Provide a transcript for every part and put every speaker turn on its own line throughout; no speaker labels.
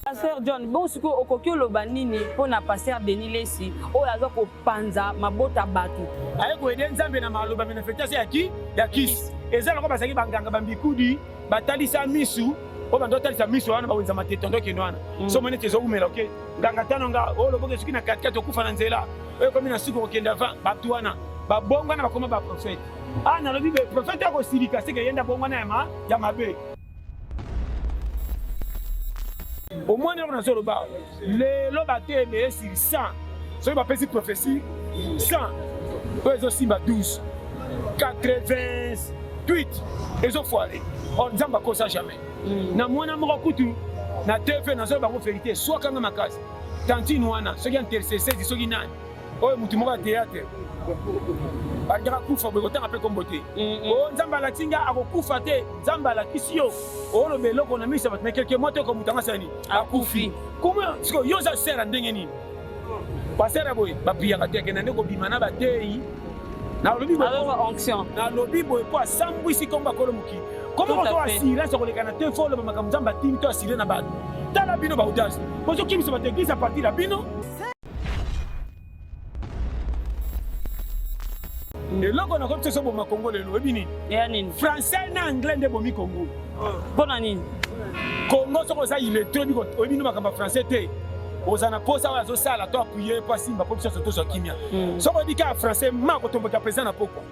pasteur john bongo sikoyo okoki oloba nini mpo na pasteur denis lesi oyo aza kopanza mabota bato aye koyede nzambe
na maloba manifestation ya ki ya kisi eza loko bazalaki banganga bambikudi batalisa misu oyo bando otalisa misu wana bawenza matete ondokende wana mm. so moni te ezoumela oke nganga tano nga oyo oh, loboka esuki na katikati okufa na nzela oyo ekomi na suki okokende avant bato wana babongwana bakoma baprofete Ah, nalobi be profeta akosilika seke ye nde abongwana ya ma ya mabe omoni yango nazoloba lelo bato ebele sur 100 soki bapesi prophesie 100 oyo ezosimba 12 88 ezofoire or oh, nzambe akosa jamais mm. na mwana moko kutu na tv nazoloba bango verité swakanga makasi tantine wana soki ya intercessesi soki nani oyo mutu moko ya théâtre bandaka kufa boye kotanga mpe kombo te o mm, mm. oh, nzambe alati nga akokufa te nzambe alakisi yo oloba eloko na miso ya bato mekeke moto eko moto yango asani akufi koma siko yo oza sere ndenge nini basere boye bapiyaka te akenda nde kobima na bateyi nalobi nalobi
boye mpo
asambwisi nkombo akolo mokili koma moto asirance koleka na te fo oloba makambo nzambe atindi to asire na bato tala bino baudasi bozokimisa bato eglise apartir ya bino eloko na komi boma kongo lelo oyebi nini ya nini français na anglais nde bomi kongo mpo na nini
kongo
soki oza iletre oyebi nini makambo ya français te oza na mposa oyo azosala to apuye mpo asimba mpo biso nyonso tozwa kimia hmm. soki oyebi kaka français ma kotomboka mpenza na pokwa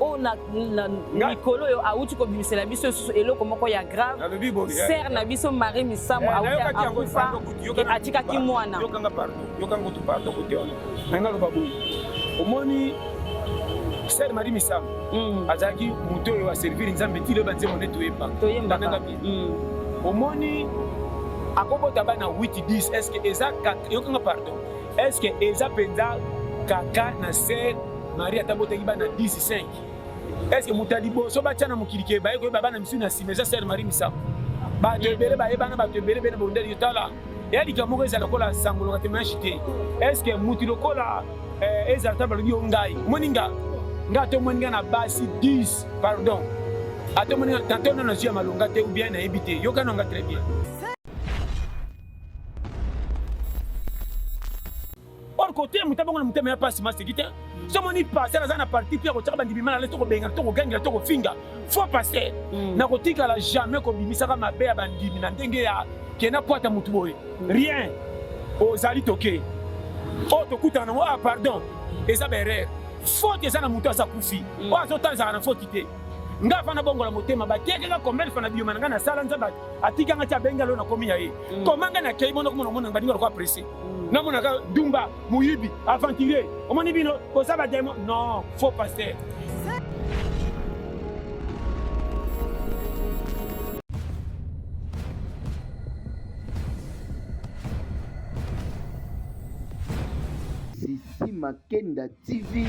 oyo na mikolo oyo awuti kobimisela biso lisusu eloko moko ya grave sere na biso marie misamu eh, awuti akufa atikaki mwana
omoni sere marie misamu mm. azalaki moto oyo aservire nzambe ti loyeba nzembo nde toyembaka
mm.
omoni akobota bana 8 10 estce eza yokanga pardon Est ce que eza penza kaka na sœur Maria tabotaki bana 15 Est ce que muta liboso batia na mokili ke baye koyeba bana misusu na sima eza sœur Marie Misamu bato ebele bayebana bato ebele bene bondeli tala ya likambo moko ezala lokola sango loka temoignage te est ce que mutu lokola eh, ezala ta balobi yo ngai omoni nga nga atomoni nga na basi 10 pardon atomoni nga tatono nazwi ya malonga te ou bien nayebi te yokana nga très bien or kote moto abongo na motema ya mpasi maseki te so omoni paster aza na parti mpe akotyaka bandimima na lesi tokobengana tokogangela tokofinga faux paster mm. na kotikala jamais kobimisaka mabe ya bandimi na ndenge ya kena kwata motu boye mm. rien ozali toke oyo oh, tokutana nango ah pardon eza baerreur faute eza na moto aza kufi mm. oyo azotanzaka na faute te nga afana bongola motema batekaka combien fana biyoma na ngai nasala nzambe atika nga ti abenga lelo nakomi ya ye mm. koma nga nakei mona komona omona nga baninga lokola presse mm. namonaka dumba moyibi aventurier omoni bino boza bademo non faux pasteur
Sisi Makenda TV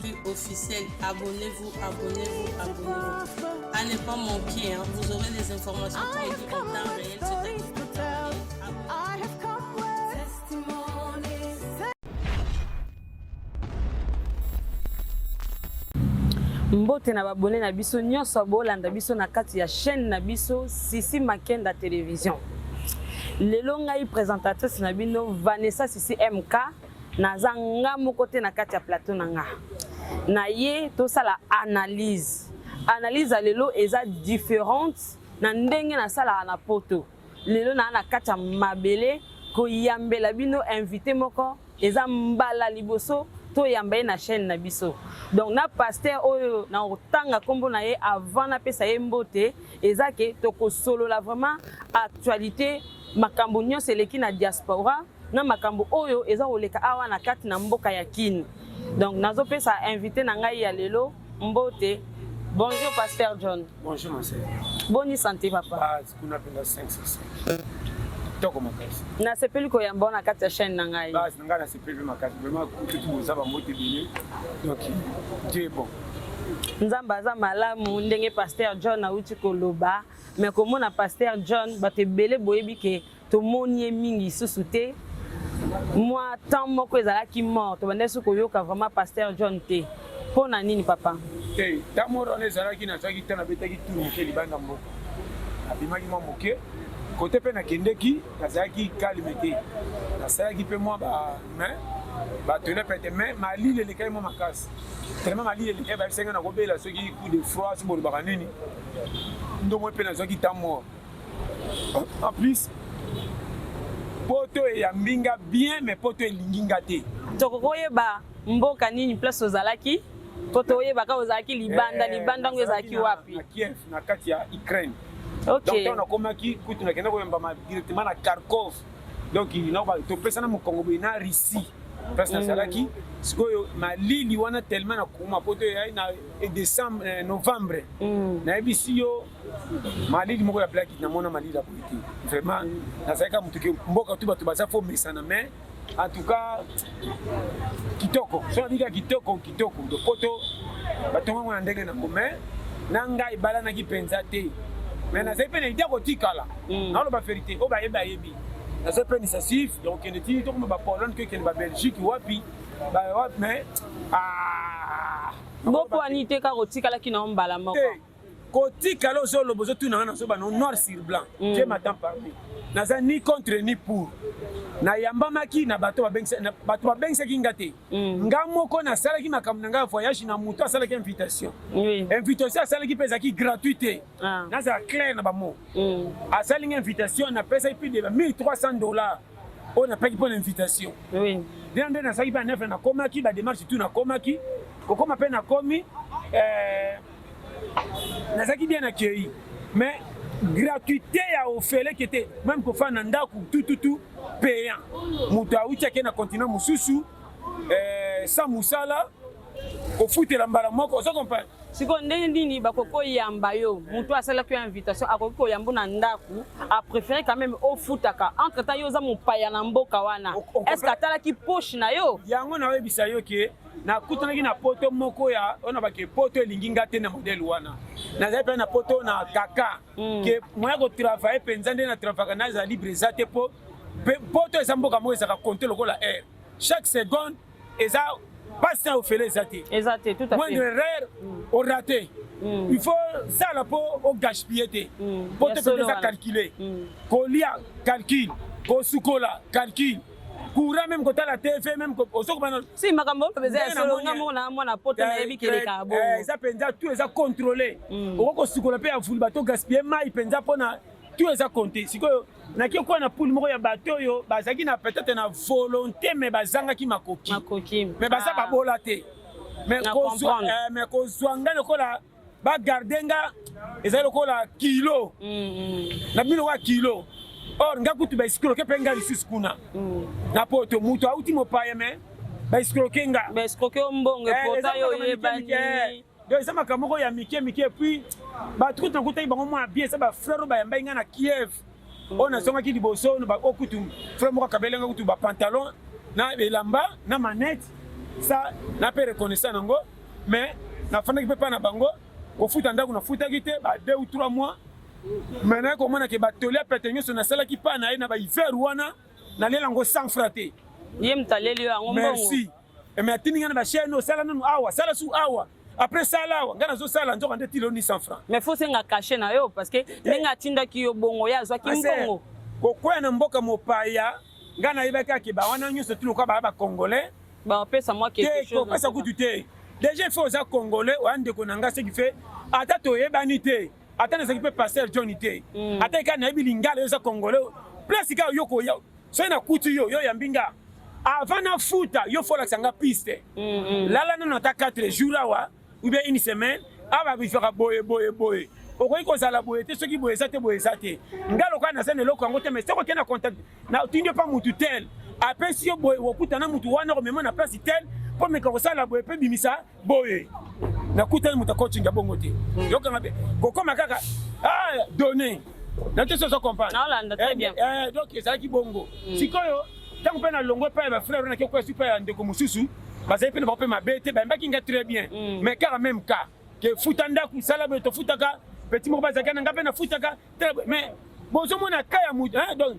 plus officiel. Abonnez-vous, abonnez-vous, abonnez-vous. À ne pas manquer, hein. vous aurez les informations pour vous en temps réel.
mbote na babone na biso nyonso bolanda biso na kati ya chaîne na biso sisi makenda télévision lelo ngai présentatrice na bino vanessa sisi mk naza nga moko te na kati ya plateau na nga na ye tosala analyse analyse ya lelo eza différente na ndenge nasalaka na poto lelo naa na kati ya mabele koyambela bino invité moko eza mbala liboso toyamba ye na chaîne na biso donc na paster oyo na kotanga nkombo na ye avant napesa ye mbote eza ke tokosolola vraiment actualité makambo nyonso eleki na diaspora na makambo oyo eza koleka awa na kati na mboka ya Kin. Donc nazopesa invité na ngai ya lelo mbote. Bonjour Pasteur John. Bonjour mon sœur.
Boni santé
papa. Ah, kuna penda 5
kitoko makasi nasepeli koyamba
na kati ya chaîne na ngai base na ngai nasepeli mpe
makasi vraiment kutu boza bambote ebele donc dieu bon nzambe
aza malamu ndenge paster john auti koloba me komona paster john bato ebele boyebi ke tomoni ye mingi lisusu te mwa temps moko ezalaki mort tobandaki so koyoka vraiment pasteur john te mpo na nini papa te ntango moro
wana ezalaki nazwaki ntango nabetaki tour moke libanda mboka nabimaki mwa moke kote mpe nakendeki nazalaki kalme te nasalaki mpe mwa bamain batole pete mai malili elekaki mwa makasi telema malili elekaki bayebisaki nakobela soki coup de froid soki bolobaka nini ndomoi mpe nazwaki ntango moko En plus, poto eyambi nga bien mais poto elingi nga te tokoki oyeba
mboka nini place ozalaki po toyeba kaka ozalaki libanda eh, libanda yango ezalaki wapi kiev na kati ya
ukraine okay. donc
nakomaki
kutu nakenda koyambama directement na kharkov donc topesana mokongo boye na russie place mm. nazalaki sikoyo malili wana tellement nakoma po to eyai na eh, décembre eh, novembre mm. nayebisi yo malili moko ya blaki na mona malili ya boye te vraiment nazali kaka moto ke mboka tu bato baza fo mesana mais en tout cas kitoko so nabi kaka kitoko kitoko do poto batongango na ndenge nango mais na ngai ebalanaki mpenza te mais nazali mpe na idea kotikala hmm. naoloba verité oyo bayebi bayebi nazali mpe nisasif ya kokende ti tokoma bapolone kokende babelgique wapi bawapi mais ah,
bopwani te kaka otikalaki na yo mbala moko kotikala
ozoloba ozotuna nga nazoba no noir sur blanc mm. je m'attend parmi naza ni contre ni pour nayambamaki na bato babengisaki nga te mm. nga moko nasalaki makambo na ngai ya voyage na moto asalaki invitation invitation
asalaki mpe
ezalaki gratuit te ah. nazala claire na bamo mm. asali nga invitation napesaki mpe de 1300 dollars oyo napeki mpo na invitation dena
nde nasalaki mpe na
nefe nakomaki bademarche tu nakomaki kokoma mpe nakomi eh, nazalaki bien accueilli mais gratuité ya ofele qui était même kofanda na ndako tututu payant moto awuti ake na continent mosusu eh, sans mosala kofutela mbala moko ozo comprendre sikoyo ndenge nini
bakoki koyamba yo moto asalaki yo invitation akoki koyamba na ndako apréféré quand même ofutaka entre temps yo oza mopaya na mboka wana est ce que atalaki poche na yo yango naoyebisa yo
ke nakutanaki na poto moko ya ona bake poto elingi nga te na modele wana nazali mpe na poto na kaka mm. ke moya kotravaille mpenza nde na travaka naza libre eza te mpo poto eza mboka moko ezalaka konte lokola aire chaque seconde eza pasi na ofele eza te eza te tout à fait moindre
erreur mm.
orate mm. il faut sala mpo ogashpille te mm. poto mpe eza calcule mm. kolia calcule kosukola calcule courant même kotala tv même ozokomana si makambo oloba
eza ya solo nga moko na mwana poto nayebi keleka eh, bongo eza mpenza tu eza
contrôle mm. okoki kosukola mpe ya vulba to gaspille mai mpenza mpona tu eza compte sikoyo nake kuwa na poule moko ya bato oyo bazalaki na peut-être na volonté mais bazangaki makoki mais baza ah. babola te mais kozwa eh, ngai lokola ba garde nga ezali lokola kilo na bino lokola kilo or nga kutu ba escroke mpe nga lisusu kuna na poto moto auti mopaya me ba escroke nga ba escroke yo mbongo
eh, epota yo oyebani eh. donc eza
makambo moko ya mike mike epuis bato kutu nakutaki bango mwa bien eza bafrere oyo bayambai ngai na kiev mm. oyo nazongaki liboso oyo kutu frere moko akabeli ngai kutu bapantalon na elamba na manete sa na mpe reconnaissant yango mais nafandaki mpe mpa na bango kofuta ndako nafutaki te ba deux ou trois mois mais naye komona ke batoli ya pete nyonso nasalaki mpa na ye na bahiver wana nalela yango sans fra te ye moto aleli
yo yango merci mais
atindi ngai na bachaine osala nanu awa sala su awa après sala awa ngai nazosala nzoka nde tiloni sans fra mais fo senga kashe na
yo parce que eh. ndenge atindaki yo bongo ye azwaki mbongo kokwea na mboka
mopaya ngai nayebaki akeba wana nyonso tiloka baya bacongolais ba pesa moi
quelque chose te ko pesa kutu te
déjà il faut oza congolais oya ndeko na nga ce qui fait ata toyebani te ata nazaki mpe pasteur john te mm. ata ekai nayebi lingala yo eza congolais place kaka yo koya soki nakuti yo yo yambi nga avant nafuta yo folakisa nga piste mm, mm. lala nano ata 4 jour awa ou bien une semaine awa ah, babizwaka boye boye boye okoki kozala boye te soki boye eza te boye eza te nga lokola naza na eloko yango te mais soki okei na contact natindi yo mpa motu tel apesi yo boye okokuta na motu wana okomema na place tel mpo meka kosala boye mpe bimisa boye nakutani moto akocinga bongo te hmm. yokanga mpe kokoma kaka ah, donne na te soso comprendre eh, eh, donc ezalaki bongo hmm. sikoyo ntango mpe nalongwe epai ya bafrere oyo nakekoya supa ya ndeko mosusu bazali mpe na bango mpe mabe te bayembaki nga très bien mm. mais kaka même cas ke futa ndako sala boye tofutaka petit moko bazalaki na ngai mpe nafutaka mais bozomona ka ya moto donc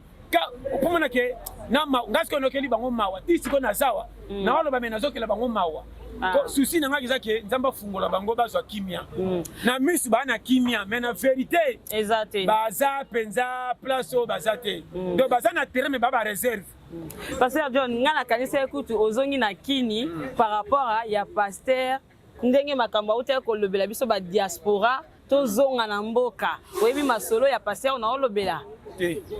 okomona ke ngai sikoyo nokeli bango mawa ti sikoyo nazawa mm. naoloba me nazokela bango mawa Ah. Souci na ngai eza ke Nzambe afungola bango bazwa kimia. Mm. Na misu ba na kimia mais na verite eza te. Baza penza place oyo baza te. Mm. Donc baza na terrain mais ba ba réserve. Mm. Pasteur John,
ngai nakanisi ekutu ozongi na Kini par rapport ya pasteur ndenge makambo autaki kolobela biso ba diaspora tozonga na mboka oyebi masolo ya pasteur na olobela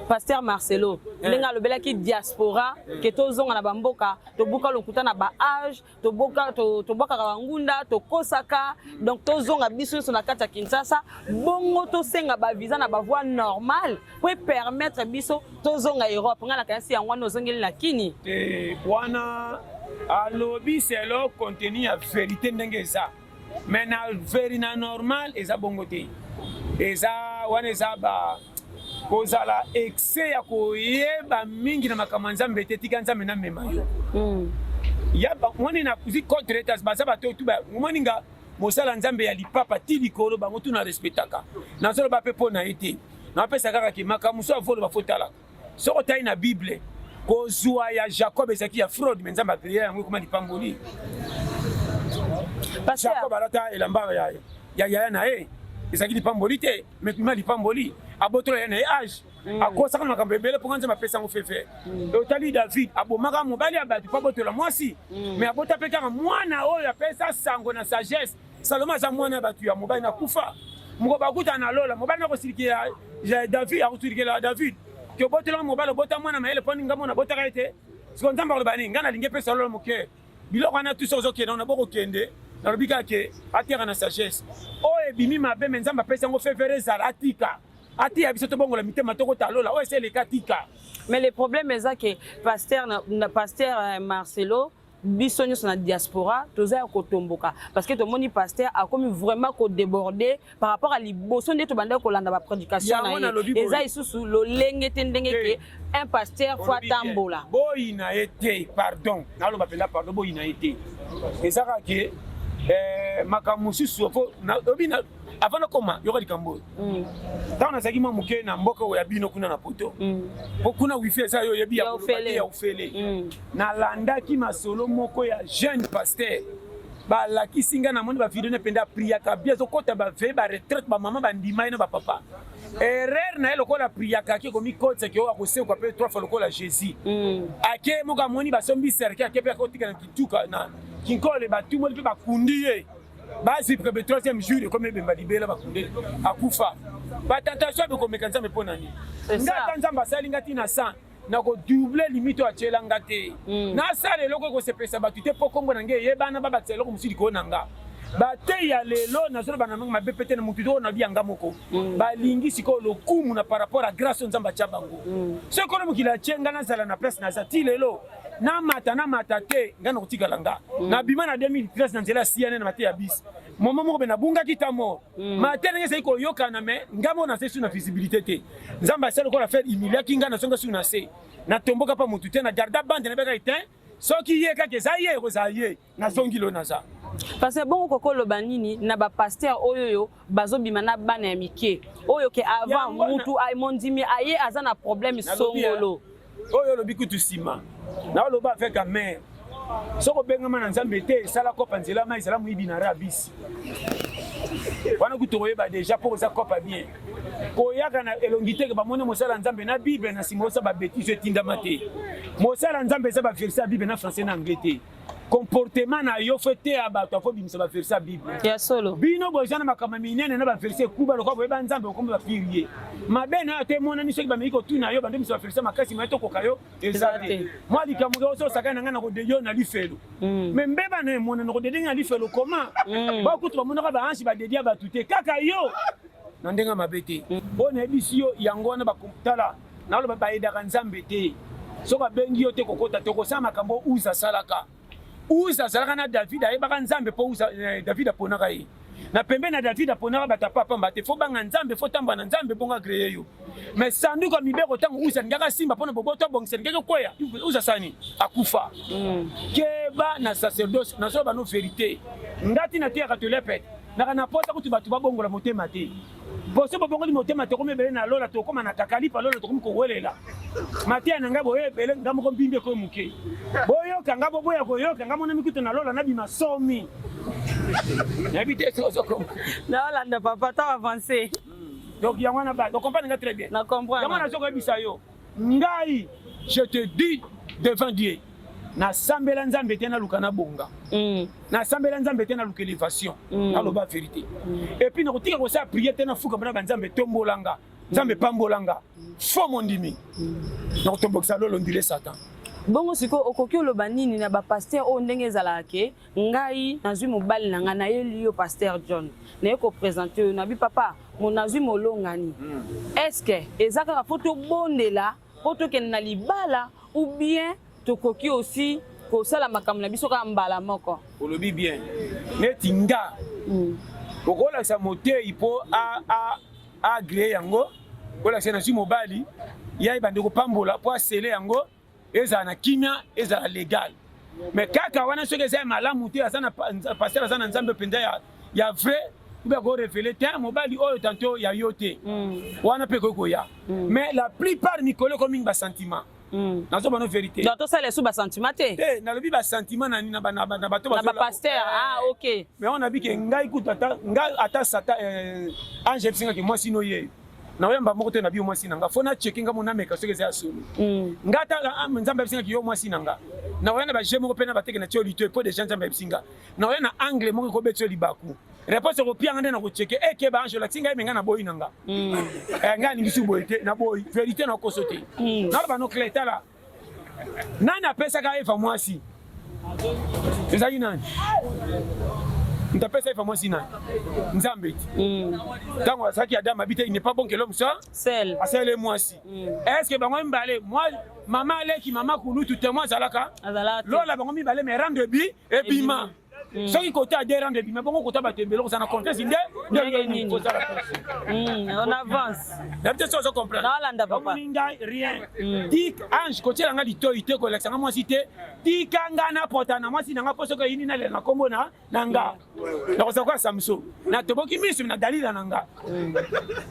pasteur marcelo eh. ndenge alobelaki diaspora eh. ke tozonga na bamboka tobuka lokuta na baage tobwakaka bangunda tokosaka donc tozonga biso nyonso na kati ya kinshasa bongo tosenga bavisa na bavoi normale po epermettre biso tozonga europe ngai nakanisi yango wana ozongeli na kini wana
alobi selo contenu ya verité ndenge eza mais na veri na normal eza bongo te eza wana eza ba kozala excès ya koyeba mingi na makambo ya nzambe te tika nzambe namema yo mm. ya bamoni na kuzi contretas baza bato oyo tu omoni nga mosala nzambe ya lipapa ti likolo bango tu na respectaka nazoloba mpe mpo na ye te napesa kaka ke makambo mosusu avoloba fotalaka Soki otali na Bible, kozwa ya Jacob ezalaki ya fraude, me Nzambe akreya yango ekoma lipamboli. Jacob alata elamba ya yaya na ye ezalaki lipamboli te, me ekoma lipamboli. Abotola ya na ye age mm. akosaka makambo ebele mpo nzambe apesa yango fefe mm. otali david abomaka mobali ya bato mpo abotola mwasi mm. me abota mpe kaka mwana oyo apesa sango na sagesse Salomon aza mwana ya bato ya mobali na kufa moko bakutana na lola mobali na kosilikela David akosilikela David ke obotelanga mobali obota mwana mayele mpo ninga mona abotaka ye te siko nzambe akoloba nini ngai nalingi epesa lola moke biloko wana tuso ozokende wana bokokende nalobi kaka ke ateka na sagesse oyo ebimi mabe me nzambe apesi yango fevere ezala atika atiya biso tobongola mitema tokota lola oyo esi eleka tika mais le problème
eza ke pasteur, pasteur euh, marcelo biso nyonso na diaspora toza ya kotomboka parce que tomoni pasteur akomi vraiment kodeborde par rapport à liboso nde tobandaki kolanda baprédication na ye eza lisusu lolenge te ndenge ke un pasteur fo atambola boyina ye te
pardon naloba mpenza pardon boyina ye te ezaka ke eh, makambo mosusu obi avant nakoma yoka likambo oyo mm. ntango nazalaki mwa moke na mboka oyo ya bino kuna na poto mm. mpo kuna wifi eza yo oyebi ya kolobate ya ofele mm. nalandaki masolo moko ya jeune pasteur balakisi ngai namoni bavideo ne mpenza priaka bi azokɔta baveye baretraite bamama bandima ye na bapapa erreur na ye lokola priaka ake komikotisa ke oyo akosekwa mpe trois fois lokola jésus ake moko amoni basombi serke ake mpe akotika na kituka na kinkole batumoli mpe bakundi ye bazi prebe troisième jour ekomi ebemba libela bakundeli akufa batentation bekomeka nzambe mpo na nini nga ata nzambe asali nga ntina san nakodouble limite oyo atyela nga te hmm. nasala eloko ekosepelisa bato te mpo nkombo na ngai eyebana babakisa eloko mosusu likolo na nga bateyi ya lelo nazoloba na ndenge mabe pete na motu toko na biyanga moko mm. balingi sikoyo lokumu na par rapport ya grâce oyo nzambe atya bango mm. soki kono mokili atye ngai nazala na place naza ti lelo na mata na mata te nga na kotikala nga mm. na bima na 2013 na nzela ya siane na mate ya bisi moma moko mpe nabungaki ta mort mm. mate ndenge ezali koyokana me nga moko nazali su na visibilité te nzambe asali lokola fere imiliaki nga nazonga su na se natomboka mpa motu te na garda bande na beka etin soki ye kaka eza ye ekozala ye nazongi lo naza parce bongo
koko loba nini na ba pasteur oyo yo bazobima na bana ya mike oyo ke avant mutu mondimi aye aza na problème songolo oyo olobi
kutu nsima naoloba avec amere soki obengama na nzambe te esala kopa nzela mai ezala moyibi na rabisi wana kutu okoyeba deja mpo oza kopa bien koyaka na elongi teke bamoni mosala ya nzambe na bible na nsima osa babetise etindama te mosala ya nzambe eza baverse ya bible na français na anglais te comportement na yo fo eteya bato akobimisa baverse ya bible ya solo bino
boza na makambo
minene na baverse ekuba lokola boyeba nzambe okomba bapire ye mabe na yo ata emonani soki bameki kotuna yo bandobimisa baverse makasi mai tokoka yo eza te mwa likambo ke ozo osakani na ngai na kodede yo na lifelo me mm. mbeba na emona na kodede ngai na lifelo koma mm. bakutu bamonaka baansi badedi ya bato te kaka yo na ndenge mabe te oyo mm. nayebisi yo yango wana bakotala Naloba ba aidaka Nzambe te. Soki abengi yo te kokota te kosala makambo Uza asalaka. Uza azalaka na David ayebaka Nzambe mpo Uza eh, David aponaka ye. Na pembe na David aponaka bato apapamba te fo banga Nzambe fo tamba na Nzambe bonga greye yo. Mais sanduku ya mibeko ntango Uza alingaka simba mpo na boboto abongisa alingaki okweya Uza sani akufa. Mm. Keba na sacerdoce nazoloba no verite. Ngati na teyaka tolepete naka na posa kutu bato babongola motema te. Boso bobongoli motema tokomi ebele na lola tokoma na kakalipa lola tokomi kowelela mateya na ngai boye ebele ngai moko mbimbi ekoye moke boyoka ngai boboya koyoka ngai monami kutu na lola nabima somi nayebi te sozokoma naolanda papa
to avance donc yango
wana ba comprendre nga très bien na comprendre yango nazokoyebisa
yo
Ngai je te dis devant Dieu nasambela nzambe te naluka nabonga mm. nasambela nzambe te naluka elevation mm. naloba verité mm. epuis nakotika kosala priere te nafukama na banzambe tombolanga nzambe pambolanga fo mondimi nakotombokisa lolo ndile satan bongo sikoyo
okoki oloba nini na bapaster oyo ndenge ezalaka ke ngai nazwi mobali na ngai nayeli yo pasteur john naye kopresente oyo nabi papa mo nazwi molongani hmm. estce eza kaka mpo tobondela mpo tokende na libala ou bien tokoki osi kosala makambo na biso kaka mbala moko olobi bien
neti nga hmm. okolakisa motei mpo agree yango kolakisa nazwi mobali ya ebande kopambola mpo asele yango ezala na kimia ezala legal me kaka wana soki eza ya malamu te aza na pasteur aza na nzambe mpenza ya, ya vrai obe akorevele te mobali oyo tanto ya yo te mm. wana mpe ekoki koya mm. mais la plupart mikolo eko mingi basentiment mm. nazo bano verité donc tosala esu basentiment
te te eh, nalobi basentiment
nani na bato na bapaster eh. ah
ok mais wana bike
ngai kutu ata ngai ata sata eh, ange ebisengaki mwasi no yeyo naoyamba moko te na bio mwasi na nga fo nacheke nga monameka soki eza ya solo mm. nga tala ah, nzambe abisingaki yo mwasi na nga naoya na baje moko mpe na bateke na tio lito epo deja nzambe abisi nga naoya na angle moko ekobeti yo libaku réponse ekopianga nde nakocheke eke eh, baange olakisi ngai me ngai naboyi na nga mm. eh, ngai alingisi boye te naboyi verité nakoso te mm. naloba nokle tala Nani apesaka Eva mwasi? Ezali nani? Moto apesa Eva mwasi nani? Nzambe ti. Mm. Tango asaki Adam abite, il n'est pas bon que l'homme soit seul. Asele
mwasi.
Mm. Est-ce que bango mbale moi mama aleki mama kulutu te moi zalaka? Azalaka. Lola bango mibale mais rendre bi ebima. ebima. Mm. soki kota ya derande ebima bongo kota bato ebele okozala na confiance nde ndenge nini kozala mm, on
avance nayebi te soki ozo comprendre
nalanda papa omoni ngai
rien mm.
tik ange kotiela ngai litoi te kolakisa ngai mwasi te tika ngai napota na mwasi na ngai mpo soki eyini nalela na nkombo na na nga nakozala koya samso natoboki miso na dalila na nga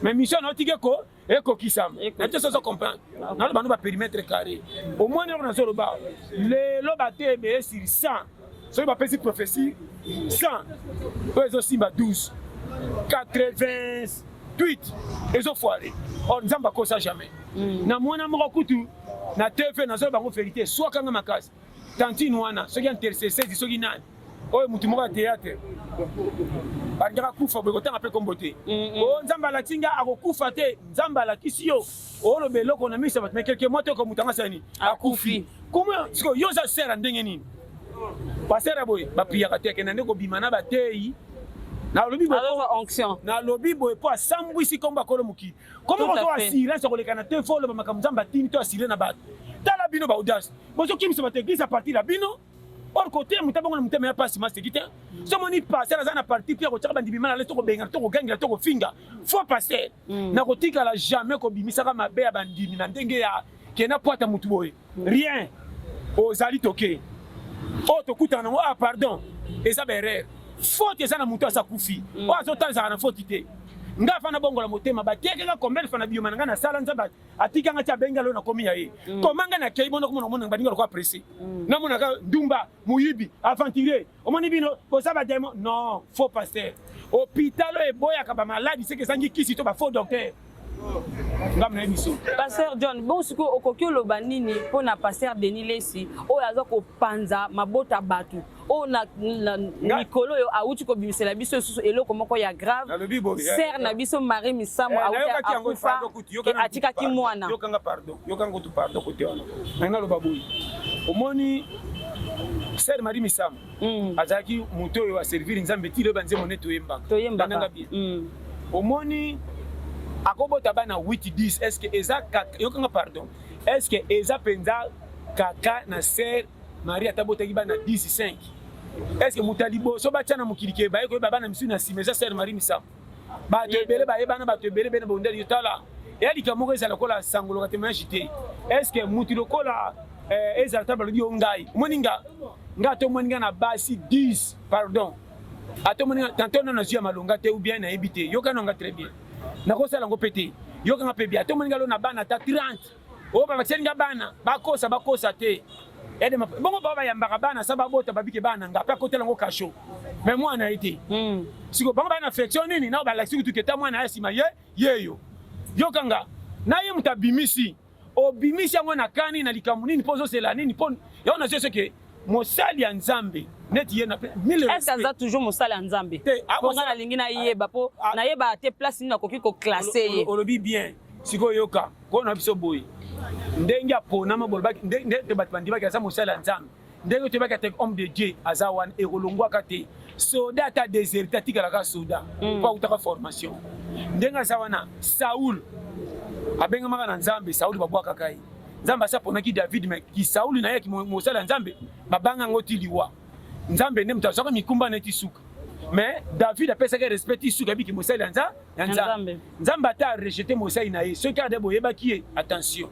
mais mission naotike ko ekokisama na te soso comprendre nano bano ba perimetre carré au moins noko nazoloba lelo bateya ebele sur 100 soki bapesi prophétie 100 oyo ezosimba 12 88 ezofoire or nzambe akosa jamais mm. na mwana moko kutu na tv nazoloba bango verité swakanga makasi tantine wana soki intercessezi soki nani oyo motu moko ya théâtre balingaka kufa boye kotanga mpe nkombo te o mm, mm. oh, nzambe alakisi nga akokufa te nzambe alakisi yo oloba eloko na miso ya bato mekelke mwa toko moto anga sani akufi koma sikoyo yo oza sera ndenge nini basera boye bapiyaka te akenda nde kobima na bateyi nalobi nalobi boye mpo asambwisi nkombo akolo mokili koma bazo assurance ya kolekana te fo oloba makambo nzambe atindi to asire na bato tala bino baaudience Bozo kimisa bato eglise à partir ya bino. Or côté muta bango na mutema ya pasi masi kite. So moni passer aza na parti pia kochaka bandimi mala leto ko benga to ko gangela to ko finga. Faut passer. Mm. Na kotika la jamais ko bimisa ka mabe ya bandimi na ndenge ya kena poata mutu boye. Mm. Rien. Ozali toke. Oh tokutana ngo ah pardon. Eza ba erreur. Faute eza na mutu asa kufi. Mm. Oh azotanzaka na faute te. nga fana bongola motema batekaka combien fana biyoma na nga nasala nzambe atika nga ti abengi alo nakomi ya ye mm. koma nga nakei bona komona omona baninga lokola presse mm. namonaka ndumba moyibi aventurier omoni bino boza bademo non faux pasteur hôpital oyo eboyaka bamaladi seke ezangi kisi to bafaux docteur ngambo na ye biso paster john bon
sikoyo okoki oloba nini mpo na paster denis lesi oyo aza kopanza mabota bato oyo oh, na mikolo oyo awuti kobimisela biso lisusu eloko moko ya grave sere na biso marie misamu eh, awuti akufa atikaki mwana yokanga pardon yokanga
kutu pardon kote wana ngai naloba boye omoni sere marie misamu mm. azalaki moto oyo aserviri nzambe
ti
loyeba nzembo nde toyembaka toyembaka bien mm. omoni akobota bana 8 10 est ce que eza yokanga pardon est ce que eza mpenza kaka na sere Maria ata botaki bana 10 5. Est-ce que muta liboso batya na mokili ke baye koyeba bana misu na nsima eza sœur Marie Misamu. Bato ebele bayebana bato ebele bene bondeli yo tala. Eya likambo moko ezala kola sangoloka témoignage te. Est-ce que mutu lokola eh, ezala ta balobi yo ngai. Omoni nga nga to moni nga na basi 10 pardon. Ato moni nga tanto na nazwi ya malonga te ou bien nayebi te. Yoka na nga très bien. Nakosala ngo pete. Yoka nga pe bien. Ato moni nga lo na bana ta 30. oyo babakiseli nga bana bakosa bakosa te bongo bao bayambaka bana sa babota babike bana nga mpe akotela yango kasho me mwana ye te hmm. siko bango baa na affection nini nao balakisi kutu keta mwana ya nsima ye yeyo yokanga na ye moto abimisi obimisi yango na kani na likambo nini mpo ozosela nini mpo yango nazwi soki mosali ya nzambe neti ye naeske aza toujours mosali
ya nzambe mpo nga nalingi nayeba mpo nayeba te place nini nakoki koklase ye olobi bien
sikoyoka Nkolo na biso boye ndenge aponama bolobaki ndenge bato bandimaki aza mosali ya Nzambe ndenge toyebaki ate homme de Dieu aza wana ekolongwaka te soda ata deserte atikalaka soda mm. mpo autaka formation ndenge aza wana Saul abengamaka na Nzambe Saul babwakaka ye Nzambe asi aponaki David me kisauli na ye mosali ya Nzambe babanga yango ti liwa Nzambe nde moto azwaka mikumba neti suka mais david apesaki respect ti suka yebiki mosali ya nzambe nzambe ata arejete mosali na ye soki ade boyebaki ye attention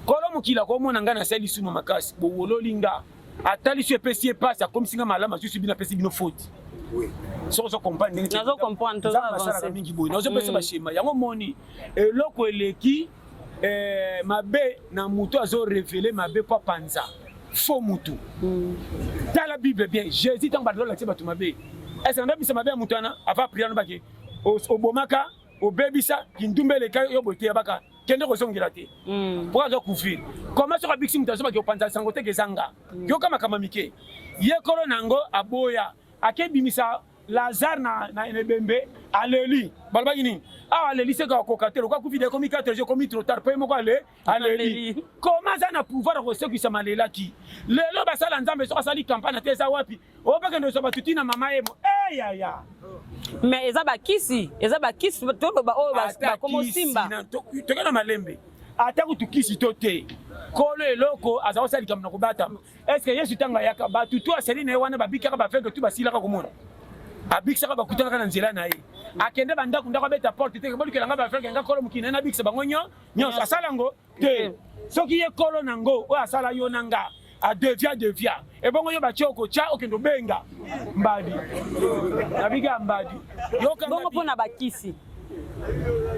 kolo mokili akomona ngai nasali lisumu makasi bowololi nga atalisi yo epesi ye mpasi akomisi nga malamu asusi bino apesi bino foti soki ozo comprendre ndenge
asalaka mingi boye nazopesa
bashema yango moni eloko eleki eh, mabe na moto azo revele mabe mpo apanza fo motu mm. tala bible bien jésus ntango bato balakisi bato mabe ese nabebisa mabe ya moto wana ava priano bake obomaka obebisa kindumba eleka yo boye teyabaka kende kozongela te mm. mpo aza couvrir koma soki abikisi moto azobaki opanza sango teke ezanga mm. yoka makambo mike ye kolo na yango aboya akebimisa Lazare na, na ebembe aleli balobaki nini awa aleli seko akoka te lokola covid ekomi 4 jours ekomi trop tard mpe moko ale aleli koma aza na pouvoir ya kosekwisa malelaki lelo basala nzambe soki asali kampane te eza wapi obakende ozwa bato ti na mama emo eyaya eh, mais
eza bakisi eza bakisi toloba oyo bakomosimba tokenda
malembe ata kutu kisi to te kolo eloko aza kosala likambo na kobatama Est-ce que Yesu tanga yaka batu to asali na ye wana babikaka ba aveugle tu basilaka komona. Abikisaka bakutanaka na nzela na ye. Akende ba ndako ndako abeta porte te bolukela nga ba aveugle nga kolo mukina na bikisa bango nyo nyo asala ngo te. Soki ye kolo na ngo oyo asala yo na nga adevia devia ebongo yo batye okotya okende obenga mbadi nabika mbadi bongo mpo na bakisi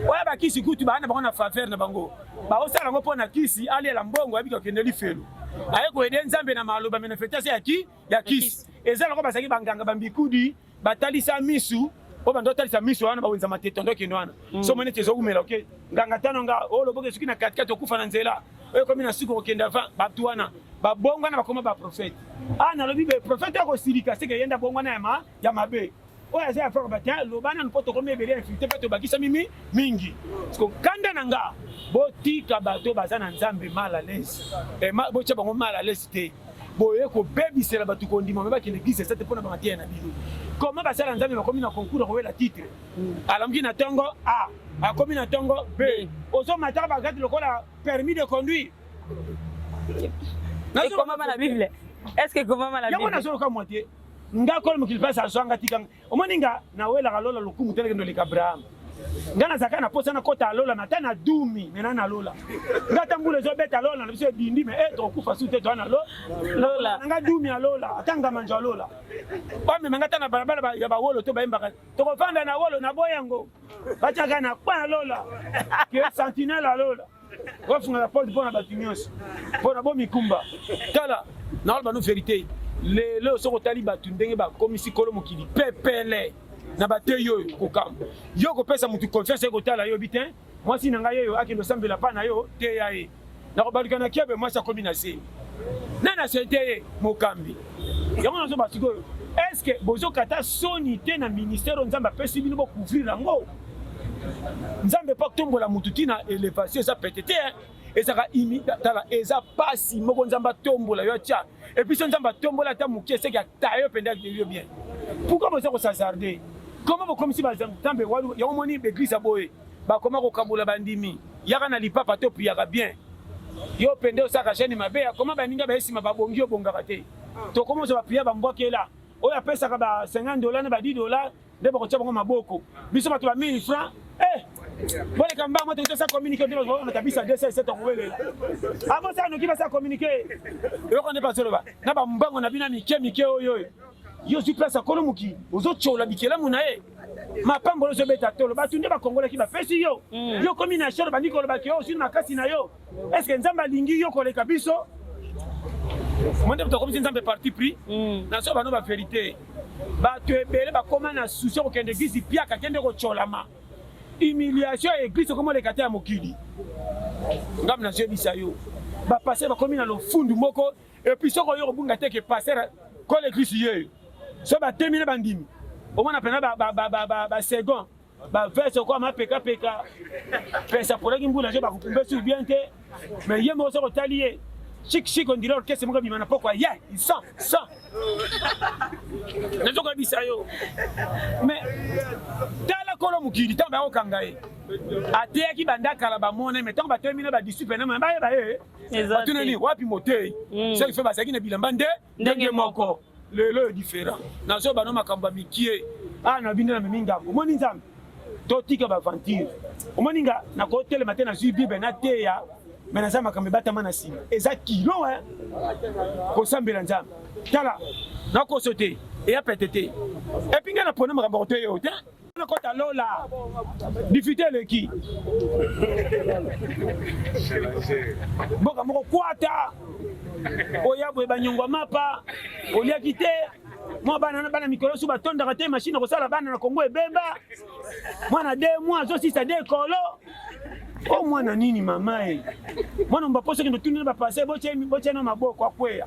oya bakisi kutu baa na bango na faveur na bango baosala yango mpo na kisi alela mbongo ayebiki akende lifelo aye koyede nzambe na maloba manifestation ya ki ya kisi eza loko bazalaki banganga bambikudi batalisa misu oyo bando otalisa misu wana bawenza matete ando okende wana mm. so moni ete ezowumela oke nganga tano nga oyo oh, loboka esuki na katikati okufa na nzela oyo ekomi na suka okokende avant bato wana babongwana bakoma baprofete a ah, nalobi baprofete akosilika seke yenda bongwana ya mabe oyo aza ya faka bata loba nanu mpo tokomi ebele ya infilite mpe tobakisami mi mingi siko kanda na nga botika bato baza na nzambe mal à l'aise eh, botya bango mal à l'aise te boye kobebisela bato kondima me bakende eglise esate mpo na bamateya na bino koma basala nzambe bakomi na concours akowela titre mm. alamuki na ntongo a akomi na ntongo b ozomataka bagati lokola permis de conduire
ekomama na bible est ce que ekomama na bible yango nazoloka mwa te
nga kolo mokili mpasi azwa nga tika omoni nga nawelaka lola lokumu te nakende oleka abraham nga nazalaka na mposa nakota lola na ta na dumi me na na lola nga ata mbula ezobeta lola na biso ebindi me e eh, tokokufa su te toa na lola nga dumi ya lola ata ngamanjo ya lola bamema nga ata na balabala ya bawolo to bayembaka tokofanda na wolo na boyango batiaka na kpa ya lola ke sentinele ya lola Wafunga la porte pona batu nyonso pona bo mikumba tala na wala banu verite lelo soko tali batu ndenge bakomisi kolo mokili pepele na bateyi oyo kokamba yo kopesa mutu confiance ekotala yo biten mwasi na ngai oyo akende osambela pa na yo teya ye nakobaluka na kiebe mwasi akomi na zemi nani asete ye mokambi yango nazoba sikoyo eske bozokata soni te na ministère oyo nzambe apesi bino bocouvrir yango nzambe mpo atombola motu ti na elevation eza pete te ezaka tala eza pasi moko nzambe atombola yo atya episo nzambe atombola ata moke eseki ata yo mpenza yo bien pourkui boza kosazarde koma bokomisi banzambe yango moni baeglise ya boye bakoma kokabola bandimi yaka na lipapa to piyaka bien yo mpenza osaka jani mabe akoma baninga bayesima babongi yo obongaka te tokoma ozwa bapiya bambwakela oyo apesaka ba 50 dola na ba 10 dola nde bakotia bango maboko biso bato ba 1000 francs eh! boleka mbango moto tosa communiqué nde bazoona kabisa 207 akowelela abosa noki basa communiqué eloko nde bazoloba na bambango na bino ya mike mike oyo oyo yo ozwi place ya kolo mokili ozotyola bikelamu na ye mapamboli ozobeta tolo bato nde bakongolaki bapesi yo mm. yo komi na sholo bandi kolobaki yo ozwi na makasi na yo Est-ce que Nzambe alingi yo koleka biso? Monde tokomisi Nzambe parti pris. Mm. Na so bano ba verité. Bato ebele bakoma na souci kokende eglise piaka kende kotsolama. Humiliation ya eglise okoma oleka te ya mokili. Ngambo nazoyebisa yo. Bapastere bakomi na lofundu moko epuis soko oyo kobunga te ke pastere kole eglise yeyo so batemi na bandimi omona mpena basecond bavese okwa mapekapeka pesa aponaki mbula je bakokumba esui bien te mais ye moko soki otali ye shikishiki ondire orkestre moko ebima na pokwa ye sa sa nazokoyebisa yo mais tala kolo mokili ntango bayakokanga ye ateyaki banda kala bamona me ntango batelemi na badisciple na bayeba ye batunani wapi motei mm. soki fe bazalaki na bilamba nde ndenge moko lelo yo different nazo bano makambo ya mikie awa na bino na memi ngambo omoni nzambe totika baventure omoni nga nakotelema te nazwi bible nateya me naza makambo ebatama na nsima eza kilo e kosambela nzambe tala nakoso te eya pete te epi ngai napona makambo ya koteya yo te kota lola difite eleki mboka moko kwata oya boye banyongwa mapa oliaki te mwa bana na bana mikolo su batondaka te mashine kosala bana na kongo ebemba mwana de mwa azosisa de kolo o oh, mwana nini mama e mwana mbapo soki ndotuni na bapase botyana maboko akweya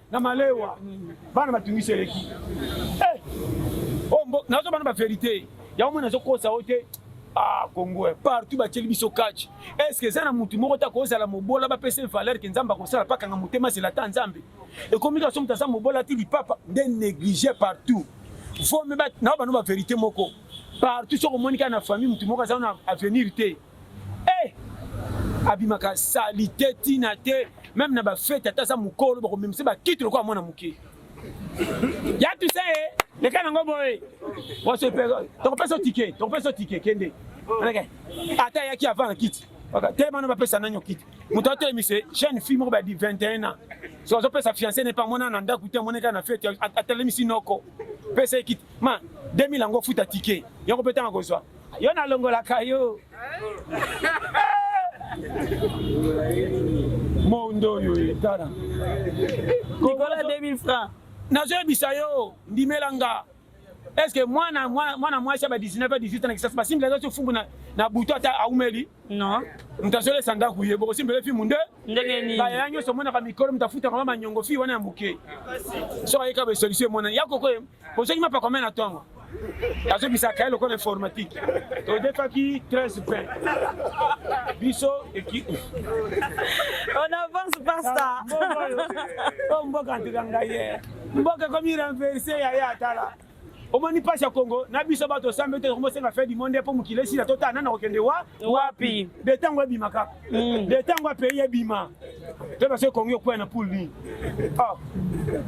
na malewa bana batungisi eleki eh! oh, nazo bana ba verite yango mwana azokosa yo te ah congo eh, partout batieli biso catch est ce que eza na motu moko te akozala mobola bapesa valeur ke nzambe akosala pakanga motema zela ata nzambe ekomi kaka so moto aza mobola ti lipapa nde néglige partout vome nao bano ba verité moko partout soki omoni kaka na famille motu moko aza na avenir te Eh! Abimaka salite tina te meme na ba fete ata aza mukolo bakomemisa ba kiti lokola mwana muke. Ya tu sais eh, leka nango boye. Waso pe tokopesa ticket, tokopesa ticket kende. Alaka ata yaki avant na kiti. Baka te bana bapesa nanyo kiti. Moto atelemisa jeune fille moko ba 21 ans. So azopesa fiancé ne pa mwana na ndaku te moneka na fete atelemisi noko. Pesa kiti. Ma 2000 yango futa ticket. Yango pe tanga kozwa. Yo nalongolaka yo. Mondo oyo etana. Nicolas
2000 francs. Nazoyebisa yo
ndimela nga. Est-ce que mwana mwana mwasi ya ba 19 à 18 ans na kisasa basimbi la zo fungu na na butu ata aumeli? Non.
Mtazole sanda
kuye boko simbi le fimu nde. Ndenge nini? Ba yanyo
so mwana ka mikolo
mtafuta kama manyongo fi wana ya muke. So ayeka ba solution mwana yako ko. Ko soki mapa komena tongo. azobisaka ye lokola informatique todefaki 13 pain biso ekipe
on avance pasta o
oh, mboka ntika ngai ye mboka ekomi renverse yaya atala omoni mpasi ya kongo na biso bato osambe te tokomosenga fe dimonde mpo mokili esila totala nana kokende wa wapi de ntango ebima kaka mm. de ntango ya pays ebima te basoki kongi okwea na poule nini ah,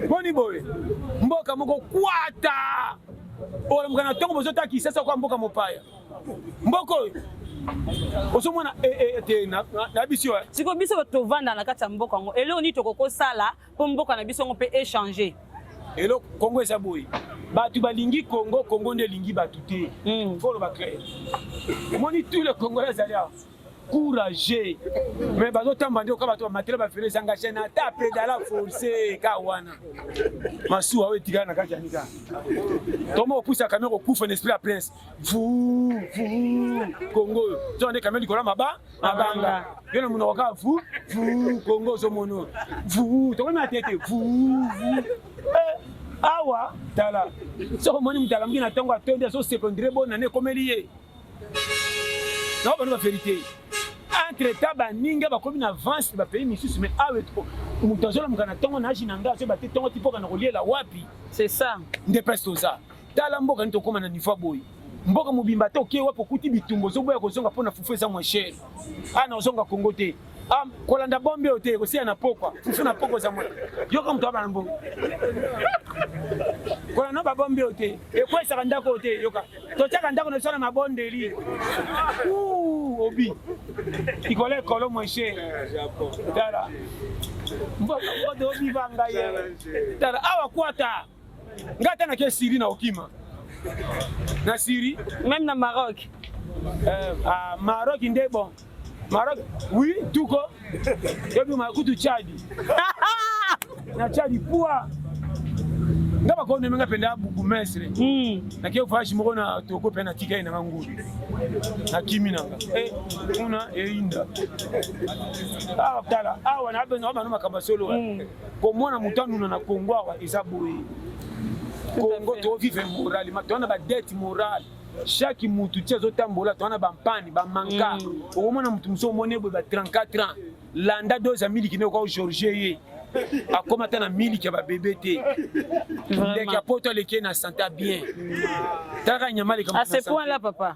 boni boye mboka moko kwata olamuka na ntongo bozotala kisasa kwa mboka mopaya mboka oyo ozomona eh, eh, eh, te na biso sikoyo biso bato tovanda
na kati ya mboka yango eloko nini tokoki kosala mpo mboka na biso yango mpe echange eloko
kongo eza boye bato balingi kongo kongo nde elingi bato te hmm. foloba claire omoni tout le congolais azali awa courage mais bazotamba nde oka bato bamatela bafele ezanga chaine ata predala force ka wana masuwa oyo etikala na kati ya nika toma opusa kamio kokufa na esprit ya prince vu vu kongo oyo zoka nde kamio likolo maba mabanga yo na monoko kaka vu vu kongo ozomono vu tokomi na tete vu vu eh, awa tala soki omoni moto alamuki na ntango atondi azosepondire bonane ekomeli ye na bana ba verite entre temps baninga bakomi na avance ba pays misusu mais awe ah, moto azolamuka na ntongo na age na ngai azoyeba te ntongo ti mpoka na koliela wapi c'est ça
nde place toza
tala mboka nini tokóma na niveau boye mboka mobimba te oke wapi okuti bitumba ozoboya kozonga mpo na fufu eza mwa chere ana ah, ozonga kongo te Ah, kolanda bombe oyo te kosiya na pokwa fufu na pokwa zamona yoka moto abana mbongo kolanda babombe oyo te ekwesaka ndako oyo te yoka totyaka ndako na biso na mabondeli obi ikolo ekolo moshe tala mboka mboka obiba ngai tala awa kwata Nga ata na ke Syrie na okima. Na Syrie, même na Maroc.
Euh, ah,
Maroc nde bon. Maroc, oui, tout ko. Ebi ma kutu Tchad. na Tchad poa. nga bakonde menga mpenza bourgmestre hmm. nake voyage moko na toko mpe na tikali nanga ngulu nakimi nanga eh, kuna eyinda awa ah, tala awa ah, na bana makambo ya solo hmm. komona moto anuna na congo awa eza boye congo tovive morale ma toza na badete morale chaque mutu ti azotambola toza na bampani bamanka mm. okomona mutu mosusu omoni boye ba 34 ans landa dose ya miliki nde okoka georgie ye akoma ata na miliki ya babebe te ndeke ya poto aleki ye na santa bien talaka nyama aleka ase point la papa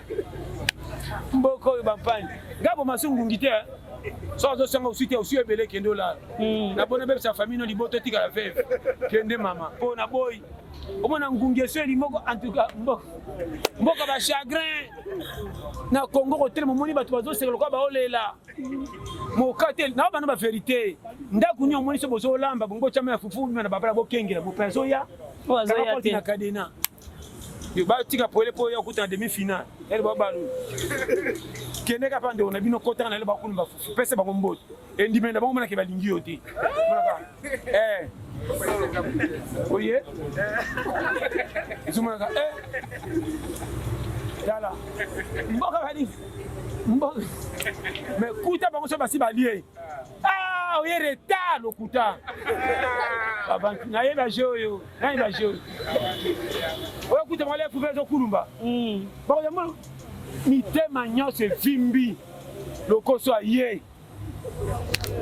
mboka oyo bampani ngai bomasi ngungi te eh. soki azosanga osi te osi ebele kende olala hmm. napona bebisa famille no liboto etikala veve kende mama mpo na boyi omona ngungi eso eli moko antuka mboka mboka bachagrin na congo kotelema omoni bato bazoseka lokola baolela moka te na bana baverité ndako nio omoni so bozolamba bongo tyama ya fufu na babala bokengela mope azoya na
kadena
yo ba tika pwele po ya kuta demi finale ele ba balu kende ka pande ona bino kota na le ba kulumba fufu pese ba komboto endime na bango mona ke ba lingi yo te eh oye zuma ka eh yala mboka kadi mboka mais kuta bango so basi balie ah oye retard lokuta nayebi aje oyo Nani ba jeu? Oyo kuta mwale fupe ezo kulumba. Mm. Bako ya mulu. Mitema nyonso evimbi. Lokoso aye.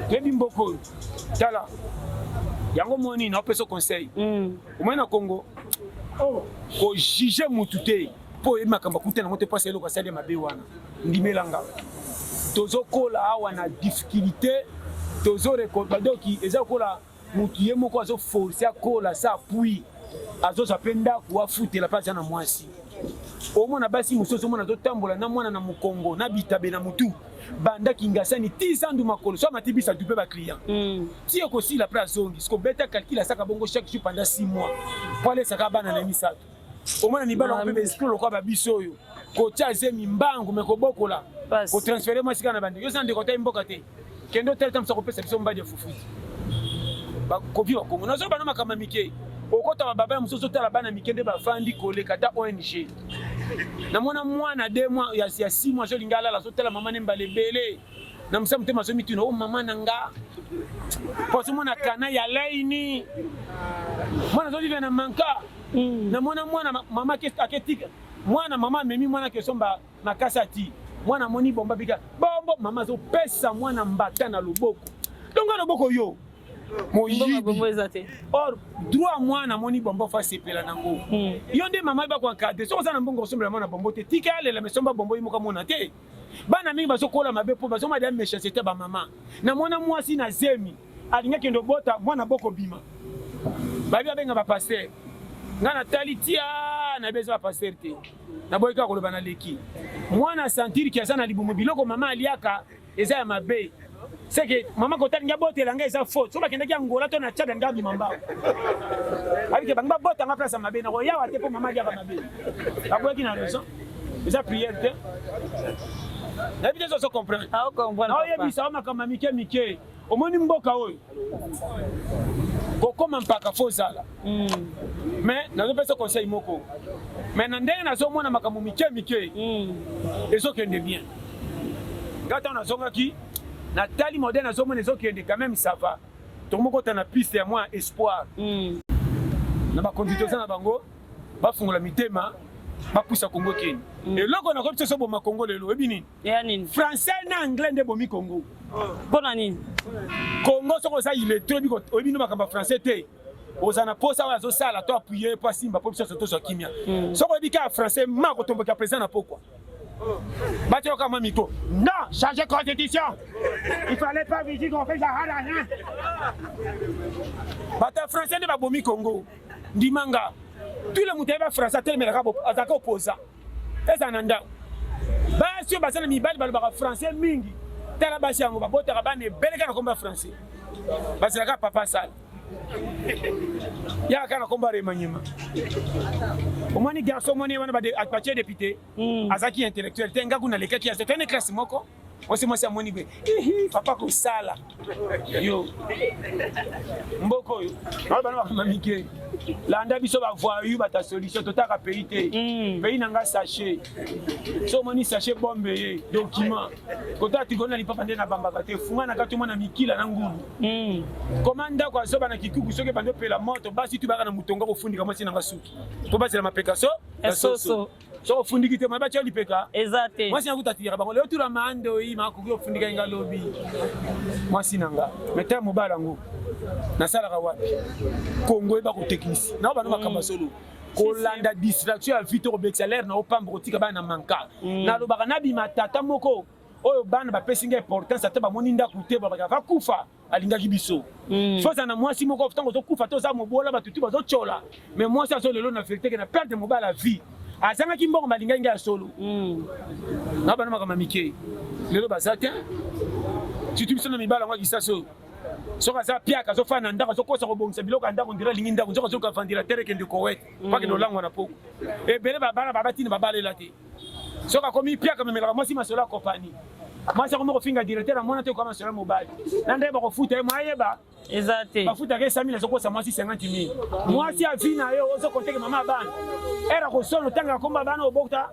Toyebi mboko oyo. Tala. Yango moni na opesa conseil. Mm. Omoni na Congo. Oh. Ko juger mutu te. mpo oyebi makambo akuta nango te mpo asa eloko asali ya mabe wana ndimela nga tozokola awa na difficulté tozorekobadoki eza kola mutu ye moko azo force akola sa puis azozwa mpe ndako afutela mpe aza na mwasi omona basi mosusu omona azotambola na mwana na mokongo na bitabe na motu banda kingasani ti zandu makolo so amati bisa dupe baclient mm. ti ekosila mpe azongi sikobeta calcul asaka bongo chaque jour pendant 6 mois po alesaka bana na ye misato omona mibali yango mpe baesprit lokola babiso oyo kotya zemi mbangu me kobokola kotransfere mwasi kaka na bandeko yo za ndeko otai mboka te kende otali ta mosa kopesa biso mbadi ya fufuti bakoki bakongo nazoba na makambo ya mike okota bababa ya mosusu otala bana mike nde bafandi koleka ata ong namona mwana de mwa ya six mois azolinga alala azotala mama ne mbala ebele na mosala motema azomituna o oh, mama na nga po azomona kana ya laini mwana azolive na manka mm. namona mwana mama aketika mwana mama amemi mwana akesomba makasi ati mwana amoni bomba bika bombo mama azopesa mwana mbata na loboko donc na loboko yo moyibi or droit mwana amoni bombo fa sepela nango hmm. yo nde mama yeba koencadre soki oza na mbongo osombela mwana bombo te tika alela mesomba bombo ye moko amona te bana mingi bazokola mabe mpo bazomona deya méchanceté ya bamama na mwana mwasi na zemi alingi akende obota mwana bokobima babi babenga bapaster ngai natali tia nayebi eza bapaster te naboyi kaka koloba na leki mwana santiri ki aza na libumu biloko mama aliaka eza ya mabe c'est que mama kotali nga botela nga eza faute soki bakendaki angola to na tchada nga abima mbao abike bango babota nga place ya mabe nakoyawa te mpo mama aliaka mabe bakweki na raison eza priere te nayebi te zozo comprendre naoyebisa
o makambo ya
mike mike omoni mboka oyo kokoma mpaka fo ozala mm. mais nazopesa conseil moko mais na ndenge nazomona makambo mike mike mm. ezokende bien ngai ntango nazongaki natali modèle nazomona ezokende quand même ça va tokomokota na piste ya mwa espoir mm. na bakonzi toza na bango bafungola mitema bapusa kongo keni eloko nakoki biso soboma kongo lelo oyebi nini ya nini français
na anglais nde
bomi congo mpo na nini
congo
soki oza iletre oyebi no makambo ya français te oza na posa oyo azosala to apuye mpo asimba mpo biso nyonso tozwa kimia hmm. soki oyebi kaka français ma kotomboka président na pokwa batyoka mwa miko non change constitution il fallait pas vigi qu'on fait zahara rien bato ya français nde babomi congo ndimanga tule moto ayebi ya français atelemelaka azalaka oposa Ezala na ndako. Basi oyo baza na mibali balobaka français mingi. Tala basi yango babotaka bana ebele kaka na kombo ya français. Bazalaka papa sala. Yaka kaka na kombo ya remaniema. Omoni garçon omoni wana batie depute. Hmm. Azaki intellectuel te ngaku nalekaki ya te. Tene classe moko. mwasi mwasi amoni pe ihi papa kosala yo mboka oyo nao bana bakoma mike landa biso bavoyu bata solution totaka pays te mm. pays na ngai sachet so omoni sachet bombe ye document kotala tikoli na lipapa nde nabambaka te funga na kati omona mikila na ngulu mm. koma ndako azoba na kikuku soki ebandi opela moto basi tubaka na motonga kofundika mwasi na ngai suki po basela mapeka so ya soso
soko ofundiki te
mabe atya lipeka eza te mwasi yango
tatiyaka bango leo
tula mandoyi makoki ofundika inga lobi mwasi na nga meta mobala yango nasalaka wapi kongo eba kotekisi nao bana makambo ya solo kolanda distraction ya vie to kobekisa lere na opamba kotika bana na manka mm. nalobaka nabima tata moko oyo bana bapesi nga importance ata bamoni ndako te babaka vakufa alingaki biso mm. soza na mwasi moko ntango ozokufa toza mobola bato tu bazotyola mais mwasi azo lelo na verité ke na perte mobali ya vie azangaki mbongo balingaki ngai ya solo mm. na bana makambo ya mike lelo baza te surtout biso na mibala yango ya kisasi oyo soki aza piaka azofanda na ndako azokosa kobongisa biloko ya ndako ndira alingi ndako nzoka azoka vandira tere kende kowete paki mm. lolangwa na poko ebele babana babatini babalela te soki akomi piaka memelaka mwasi masolo ya kompani mwasi akomi kofinga directeur na mwana te okoma masolo ya mobali na nde bakofuta ye mwayeba eza te bafutaka
ye samili
azokosa mwasi 50 mil mwasi avi na ye ozokonteke mama abana era kosolo ntango akomba bana obokta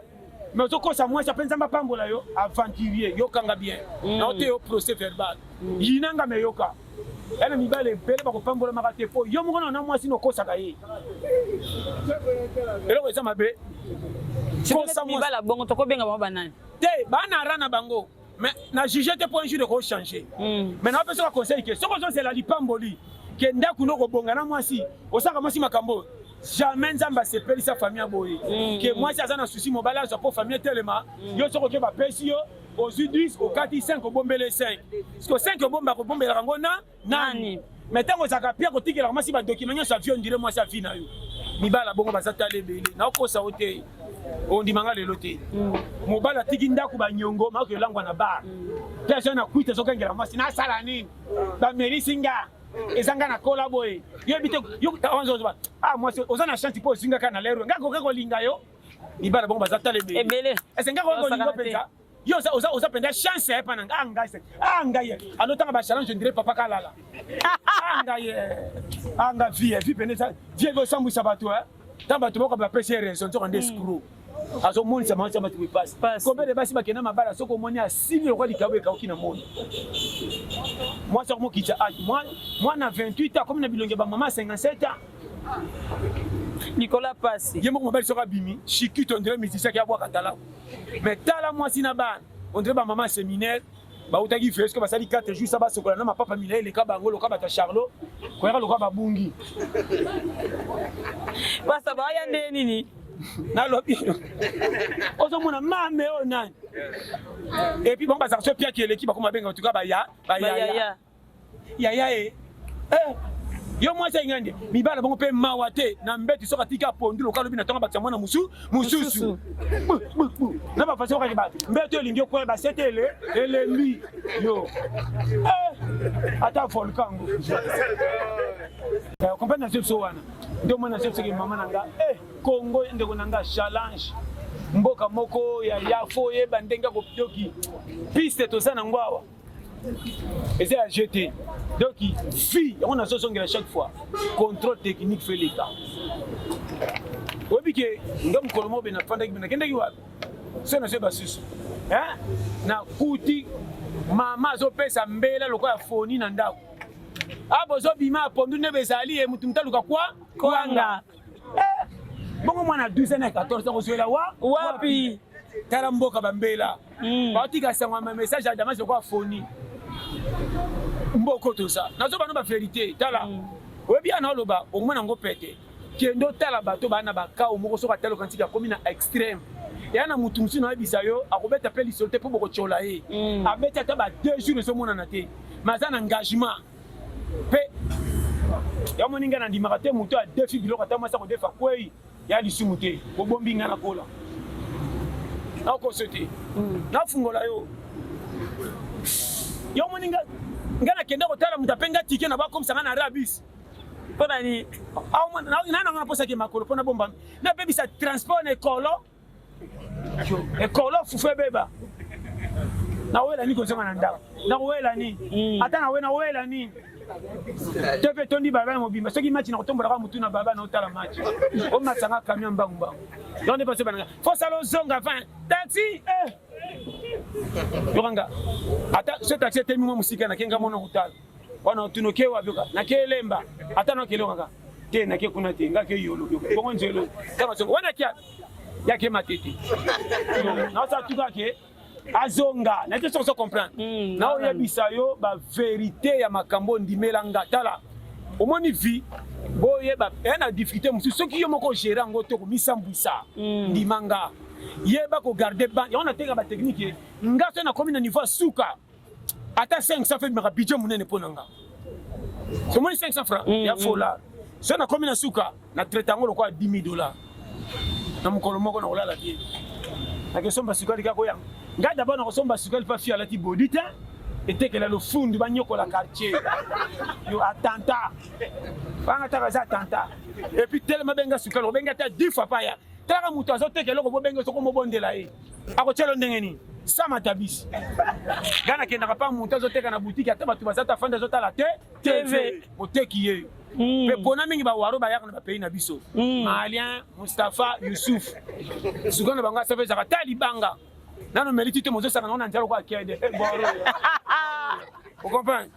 mais ozokosa mwasi ape nzambe apambola yo aventurier yokanga bien mm. na oteyo procès verbal mm. yinanga me yoka ena mibale ebele bakopambolamaka te mpo yo moko na na mwasi nokosaka ye eloko eza mabe kosa
mwasi bongo tokobenga bango banani te bana ara
na bango mais na juge te mpo un jour eko changer mm. mais na opesa ka conseil ke soki ozozela lipamboli ke ndako no kobonga na mwasi osaka mwasi makambo oyo jamais nzambe asepelisa famille boye mm. ke mwasi aza na susi mobali azwa mpo famille etelema mm. yo soki oke bapesi yo ozwi 10 okati 5 obombele 5 siko 5 obomba kobombelaka yango na nani mais ntango ozalaka mpe akotikelaka mwasi badokima nyonso avio ondire mwasi avi na yo mibala bongo baza tala ebele naokosa yo te ondima nga lelo te mm. mobali atiki ndako banyongo maoki olangwa na bar mm. mpe azali na kwite ezokengela mwasi nasala nini bamelisi nga mm. eza nga na kola boye yebi te yozoba ah mwasi oza na chance mpo ozingaka na lero nga koke kolinga yo mibala bongo baza tala ebele ese nga
kokolingo
mpenza Yo oza oza oza penda chance ya pana nga nga se. Ah nga ye. Ano tanga ba challenge ndire papa kalala. Ah nga ye. Ah nga vie vie pende sa. Vie go sambu sa bato eh. Tanga bato boko ba pese raison to kande screw. Hmm. Azo moni sa mansa bato passe. Combien de basi bakena mabala soko moni asili okwa likabo ekauki na moni. Moi soko mokicha age moi moi na 28 ans comme na bilonge ba maman 57 ans. Nicolas Pasi. Ye moko mobali soko abimi, shikito
ndire
musicien ki abwaka talaku. Mais tala mwasi na bana, on dirait ba maman seminaire bautaki feske basali 4 jours sa basokola na mapapa milai eleka bango loka bato ya charlot koyaka loka babungi
basa baya nde nini nalobi
ozomona mame oyo nani epuis bango bazaka so piaki eleki bakoma benga tuka baya bayaya Yaya e eh, yo mwasi alinga nde mibala bango mpe mawa te na mbeti soki atika pondu lokola lobi na ntongo bakisa mwana mosu mosusu na bafasi okaki ba mbeto elingi okoya basete ele elembi yo eh, ata volkan ngo comprendre na sebiso wana nde omoi na sebiso ke mama na nga eh, kongo ndeko na nga challenge mboka moko ya yafo oyeba ndenge ya kopitoki piste toza na ngo awa eza ya jeu te donc vie yango nazozongela chaque fois contrôle technique fe leta oyebi ke nga mokolo mobe nafandaki me nakendaki wapi so nazwi basusu nakuti mama azopesa mbela lokola foni na ndako abozobima apondu nde bezali ye motu motaluka kwa kwanga bongo mwana ya 12 na 14 akozwela wa wapi tala mboka bambela hmm. baotika sango ma message ya damas lokola foni mboko toza nazoba no baverité tala hmm. oyebi yana oloba omona yango pete kendo tala bato baa na bakao moko soki atali okanisi akomi na extrême eya na motu mosusu nayebisa yo akobeta mpe lisolo te mpo bokotyola ye hmm. abeti ata ba deux jours ezomonana te mais aza na engagement mpe ya moni ngai nandimaka te moto ya defi biloko ata mwasi akodefa kwei ya lisumu te kobombi ngai nakola nakoso te hmm. nafungola yo yo moni ngai nakenda kotala moto ape ngai tike na bakomisa ngai na rabis mpo nani nananga naposaki makolo mpo nabomba nabebisa transport na ekolo ekolo fufu ebeba nawela ni kozonga na ndako nawela ni mm. ata nawe nawela ni te mpe tondi baba ya mobimba soki match na kotombolaka motu na baba na otala match omasanga camion mbangu mbangu yango nde baso bananga fosala ozonga 20 taxi eh! yokanga ata so taxi etemi mwa mosika nakenga mona kotala wana otuna oke wapi oka nake elemba ata na okele kaka te nake kuna te nga ke yolo bongo nzelo kaka soko wana kia yake matete na osa tuka ke azonga na te sokoso comprendre mm, na oyebisa yo ba verite ya makambo ondimela nga tala omoni vie boyeba eya eh, na difficulté mosusu soki yo moko ogere yango te komisambwisa mm. ndima nga yeba kogarde ban yango natenga batechnike nga so nakomi na niveau ya suka ata 500 fe maka budget munene mpo na nga omoni 500 francs mm, ya mm. fola so nakomi na suka na traite yango lokola 10 dollars na mokolo moko nakolala te nakesomba sukali kaka koyanga ngai dabord nakosomba sukali mpa fi alati bodi te etekela lofundu banyokola quartier yo atanta banga taka eza atanta epuis telema benga sukali obenga ata 10 fois paya talaka moto azotekela okobobenge soko mobondela ye akotia lo ndenge nini sama tabisi nga nakendaka mpa moto azoteka na butiki ata bato baza tafandi azotala te tv oteki ye hmm. mpe mpona mingi bawaro bayaka na bapays na biso hmm. malien mustapha yusuf suka na bango asafa ezaka ta libanga nano meliti te mozosaka nango na nzala okoakiade eh, okomprendre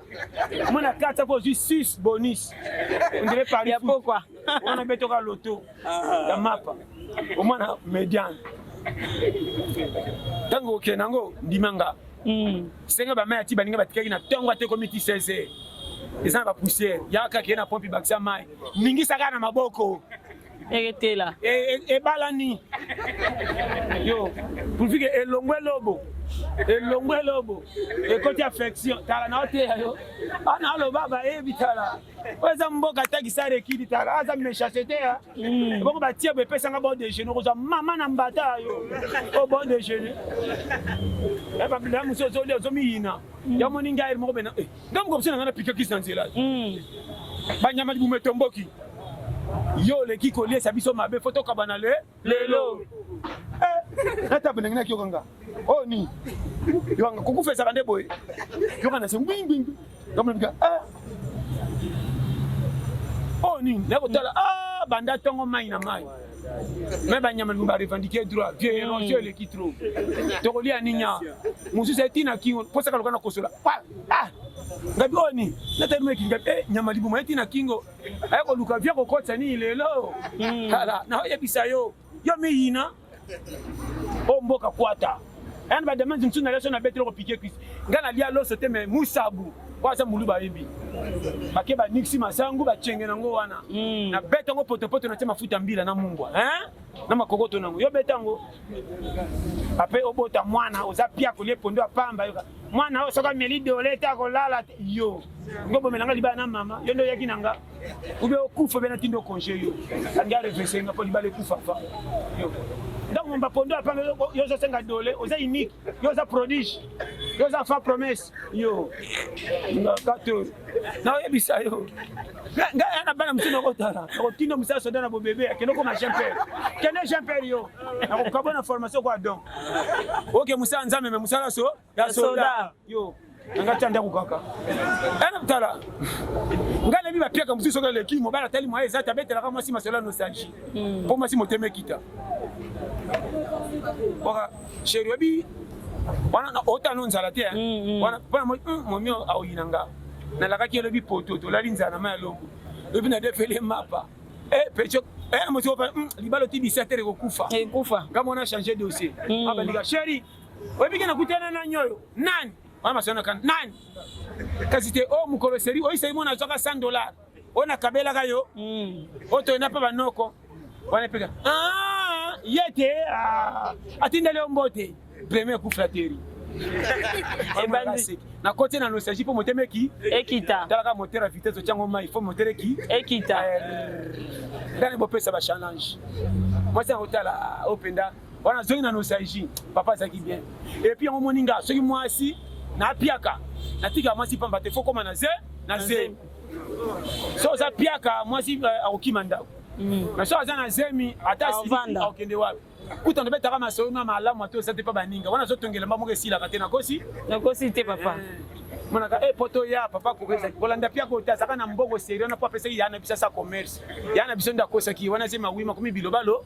mwana kati ako ozwi sus bonus ondire pari ya pokwa
wana betoka
loto ah. ya mapa omwana mediane ntango okende nango ndima nga hmm. senga bamai ati baninga batikaki na ntongo ata ekomi ti 16 eza na bapoussière yaka kee na pompe bakisa mai ningisa kaka na maboko eketela
e, e, ebalani
yo pulvike elongwe lobo elongwe lobo ekoti affection tala na oteya yo ana aloba bayebi tala oyo eza mboka atakisa rekidi tala aza mechasete ya hmm. bongo batie bo epesanga bon dejeuner okozwa mama na mbata yo o oh, bon dejeuner eh, ya mosusu ozoli ozomiyina hmm. ya moni ngai moko bena eh, nga mokobisa na nga na pika kisi na nzela hmm. banyama libumu etomboki yo oleki koliesa biso mabe fo tokabana le lelo eh, natape ndenge nakiyoka nga o oh, ni yokanga kokufa ezaka nde boye yoka na se ngwingwingwi yokamika eh. o oh, nini nakotala ah, banda ntongo mai na mai me banyama lingi barevendike droit vie erosion hmm. eleki trop tokolia ninya mosusu etina kingo mposaka loka na kosola ah! ngabi oyo ni natalumaki ngabi e nyama libuma ye ntina kingo aye koluka vie kokotisa nini lelo hmm. tala naoyebisa yo yo miyina o mboka kwata Aya na ba demande mosusu na leso na betelo ko piquer cuisse. Nga na lia loso te mais musabu. Oyo aza muluba ayebi. Bake ba nixi masangu ba chenge na ngo wana. Mm. Na beta ngo poto poto na tia mafuta mbila na mungwa. Hein? Na makokoto na ngo. Yo beta ngo. Ape obota mwana oza pia ko lepo ndo apamba yo. Mwana oyo soka meli dole ta ko lala yo. Ngo bomela nga libaya na mama. Yo ndo yaki na nga. ube okufa bena tindo konje yo andi arevese nga mpo libala ekufa fa yo donc momba pondo apanga yo ozosenga dole oza unique yo oza prodige yo oza fa promesse yo ngakato naoyebisa yo ngai ya na bana mosusu nakotala nakotinda mosala soda na bobebe akende okoma jean pere kende jean pere yo nakokabona formation kwa don oke mosala nzambe me mosala so ya soda yo nanga tia ndako kaka ana mtala ngai nayebi bapiaka mosusu soki eleki mobali atali moye eza te abetelaka mwasi masolo ya nostalgie hmm. mpo mwasi motema ekita oka sheri oyebi wana otano nzala te hmm, hmm. wana mpona momi hmm, aoyina nga nalakaki elobi poto tolali nzala na mai ya longo lobi na defele mapa eh, pecho eh, mosi libala otibisa te ekokufa nga mwana change dossier abandika sheri oyebi ke nakutana nani oyo nani wana masanaka nani kasi te o oh, mokolo eseri oyisaki mona azwaka 100 dollar oyo nakabelaka yo hmm. oyo toyenda mpe banoko wana epeka ah, ye te ah, atindeli yo mbote premier coup flateri nakoti na nostalgie mpo motema eki ekita talaka
motere ya vitesse
otyango mai fo motere eki ekita eh, ndani bopesa bachallenge mwasi akotala oyo mpenza wana azongi na nostalgie papa azalaki bien epuis yango omoni nga soki mwasi napiaka natika mwasi pamba te fo koma na ze na ze so oza piaka mwasi eh, akokima ndako mm. mais so aza na zemi ata akende wapi kuta nabetaka masolo na malamu ata oza te mpa baninga wana azotongela mba moko esilaka te nakosi nakosi te papa
eh. monaka e eh,
poto ya papa kokezaki kolanda pia kota azaka na mbongo serio na po apesaki ya na biso asa commerce ya na biso nde akosaki wana zemi awi makomi bilobalo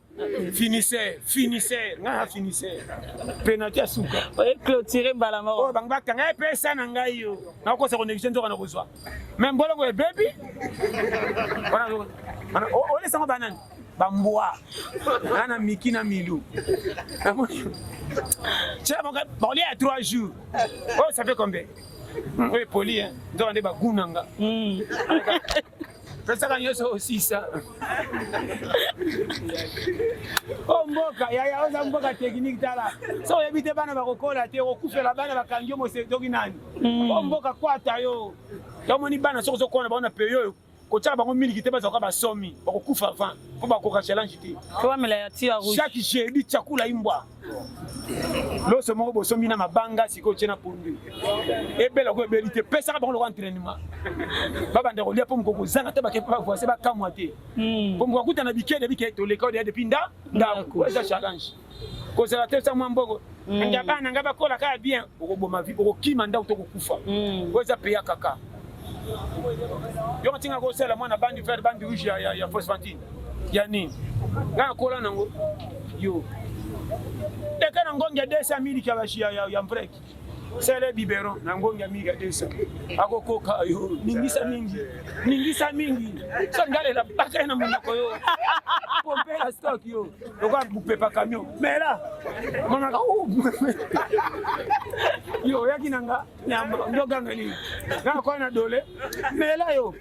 finisseur finisseur ngai na finisseur penalty ya suka oye clôture
mbala moko oyo bango bakanga epesa
na ngai yo nakokosa koneglige nzoka na kozwa me mbolongo ebebi olesango banani bambwa na na miki na milu cela bakolia ya trois jours oyo oh, ça fait combien hmm, oyo epoli nzoka nde bagunanga hmm. tosaka nyonso osisa o oh, mboka yaya oza mboka teknike tala so oyebi te bana bakokola te okufela bana bakangi yo mosedoki nani o hmm. oh, mboka kwata yo tomoni bana soki ozokola bango na peyi oyo kotyaka bango miliki te bazalaka basomi bakokufa avant mpo bakoka challenge te chaque
jeudi chakula
imbwa loso moko bosombi na mabanga sikoyo tye na pondu ebela oko ebeli te pesaka bango lokola entrainement babanda kolia mpo mokoko kozanga te bavoise bakamwa te mpo hmm. mokoko kuta na bikede bikede toleka odeya depuis nda ndako eza challenge kozala te sa mwa mboko hmm. nga bana nga bakola kaka bien okoboma vi okokima ndako to kokufa hmm. oyo eza peya kaka yo kotinga kosala mwana bandi vert bandi rouge ya, ya, ya fosfantine ya nini ngai nakola nango yo eka na ngongi ya 200 miliki ya, ya, ya mpreki sele biberon na ngongi ya mingi ya desa akokoka yo ningisa mingi ningisa mingi so ngalela baka na monoko yo pompela stok yo lokola bupepa camion mela monaka yo oyaki na nga nyama ndoganga nini kaka kwa na dole mela yo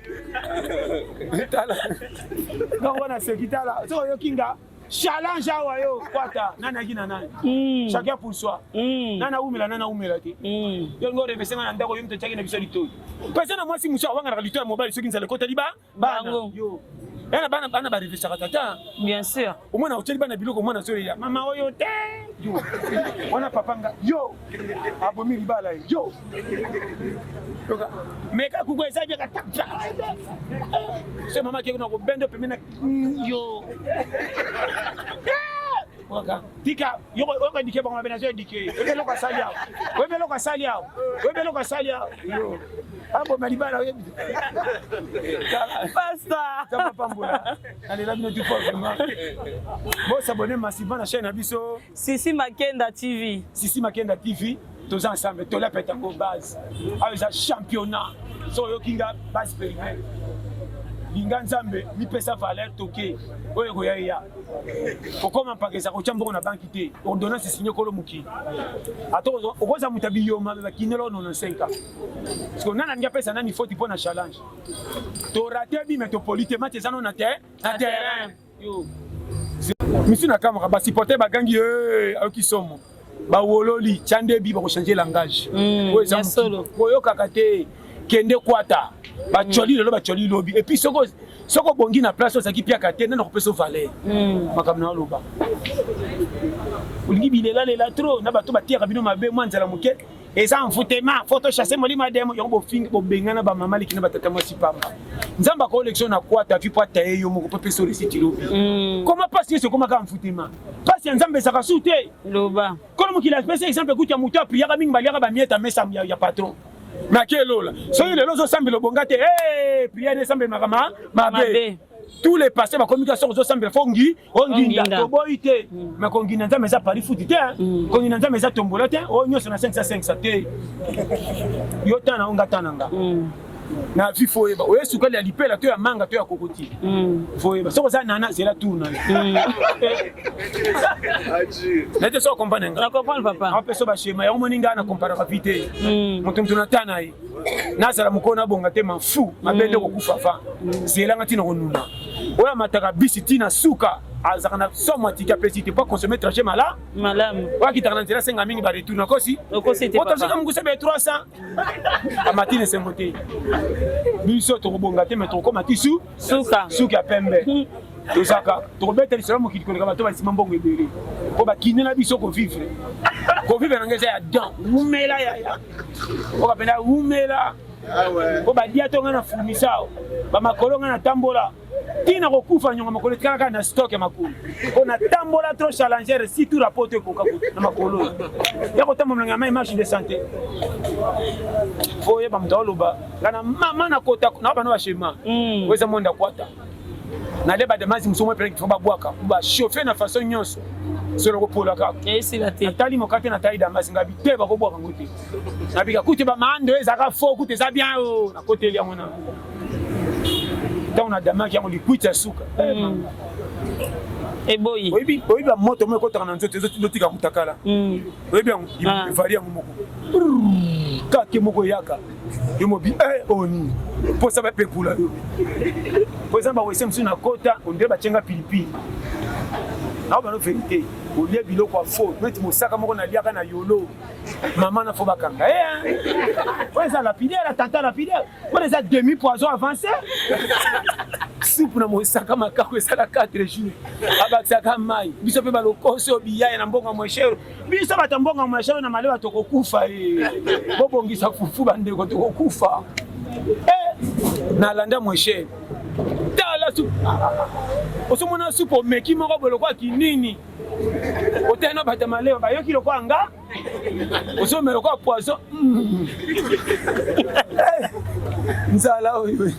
tala donc wana seki tala soki oyoki nga challenge awa yo kwata nani aki na nani hmm. chacun pour soi hmm. nani awumela nani awumela te hmm. yo ngo orevese nga na ndako yo moto etiaki na biso litoi pesa na mwasi mosu awanganaka litoi ya mobali soki nzala ekota liba bana yo yana bana bana ba revesaka tata bien sûr omwana oteli bana biloko omwana so ya
mama
oyo te yo wana papa nga yo abomi libala yo toka meka kuku eza bia kata se mama keko na kobendo pembe na yo tika yoko yoko indiqué bango bena zo indiqué oyebi eloko asali awa oyebi eloko asali awa oyebi eloko asali awa aboma libala oyebi
pasta pambola
nalela bino tu fort vraiment bosabone masiba na chaîne na biso sisi makenda
tv sisi makenda tv
toza ensemble tola pete yango base awa eza championnat so oyoki nga base perimere linga nzambe mipesa valeur toke oyo ekoya eya kokoma mpakesa kotya mbongo na banki te ordonnance esinye kolo mokili ata okozala moto ya biyoma me bakinela ono na 5 ans parceke nani alingi apesa nani foti mpo na challenge torate bime topoli te mati eza no na terrain misu na kamaka ba supporter ba gangi eh ayoki somo ba wololi chandebi ba ko changer langage hmm, oyo eza solo
koyokaka te
kende kwata ba choli hmm. lelo ba choli lobi et puis soko soko bongi na place ozaki piaka te nana kopesa valeur hmm. makambo na oloba olingi bilela lela trop na bato batiyaka bino mabe mwa nzala moke eza envoutema fo tochasse molimo ya demo yango bofingi bobengana bamama leki na batata mwasi pamba nzambe akoolekisa na kwata vi po ataye yo moko po pesa oresiti lobi mm. koma mpasi nyonso ekomaka envoutema mpasi ya nzambe ezaka su te loba kolo
mokili apesa
exemple kutu ya moto apriyaka mingi baliaka bamieta mesa ya patron makelola soki lelo ozosambela obonga te priere esambela makama mabe tous les pasteurs bakomi ka soko zosambela fo ngi onginda oh, toboyi te mm. mais konginda nzambe eza pari futi te hein. mm. konginda nzambe eza tombola te oyo oh, nyonso na 505 te yo tana yo nga tana nga mm. na vie fo oyeba oye sukali ya lipela to ya manga to ya kokoti fo oyeba soki oza nana zela tour na nete so okomprane nga
apesa bashema yango moni
ngai na komparaka vi te moto moto na tana ye nazala mokolo nabonga te mafu mabe nde mm. kokufa fa mm. zelanga ntina konuna oyo amataka bisi ntina suka azalaka na somo atiki apesi te mpo akonsome traje mala malamu oyo akitaka
na nzela asenga
mingi baretour nakosi otozoka mokuse
be 300
amati na esengo te biso tokobonga te me tokokoma tisu suka suki ya pembe hmm. tozaka tokobeta lisolo mokili koleka bato basima mbongo ebele mpo bakinde na biso kovivre kovivre na ngai eza ya dan wumela yaya oka pena wumela po badia to ngai na fulmisao bamakolo ngai natambola ntina kokufa nyonga makolo etikala kaka na stock ya makolo mpo natambola trop challenger si tour apoto ekoka na makolo oyo ya kotambola molongo ya mai marche de santé oyeba moto aoloba nga na mama nakota na bana bashema hmm. oyo eza monda kwata nale badamasi mosusu mopelaki fo babwaka bachauffe na façon nyonso solo kopolaka natali
mokate na tai damasi
ngabi te bakobwaka ngo te nabika kute bamando ezaka fo kute eza bien o oh, nakoteli yango na ntango nadamaki yango likwiti ya suka
eh, hmm. eboyi oyebi bamoto
moko ekotaka na nzoto ezotika mutakala hmm. oyebi yango ah. evali yango moko kake moko eyaka yo mobi eh, oyo nini mposa bapekula yo mpo eza bawese mosusu na kota ondire batyenga pilipili nao bano verité olie biloko ya fo neti mosaka moko naliaka na yolo mama na fo bakanga eh, oyo eza lapidaire tata lapidaire oyo eza demi poison avancé supu na mosaka makako esala 4 jours abakisaka mai biso mpe balokoso biyaya na mbongo ya mweshero biso bato mbongo mashalo na malewa tokokufa eh. bobongisa fufu bandeko tokokufa eh, nalanda mweshe tala supu osomona supu omeki moko bolokwaki nini otali na bato malewa bayoki lokola nga osomela lokola poison mm. nzala oyo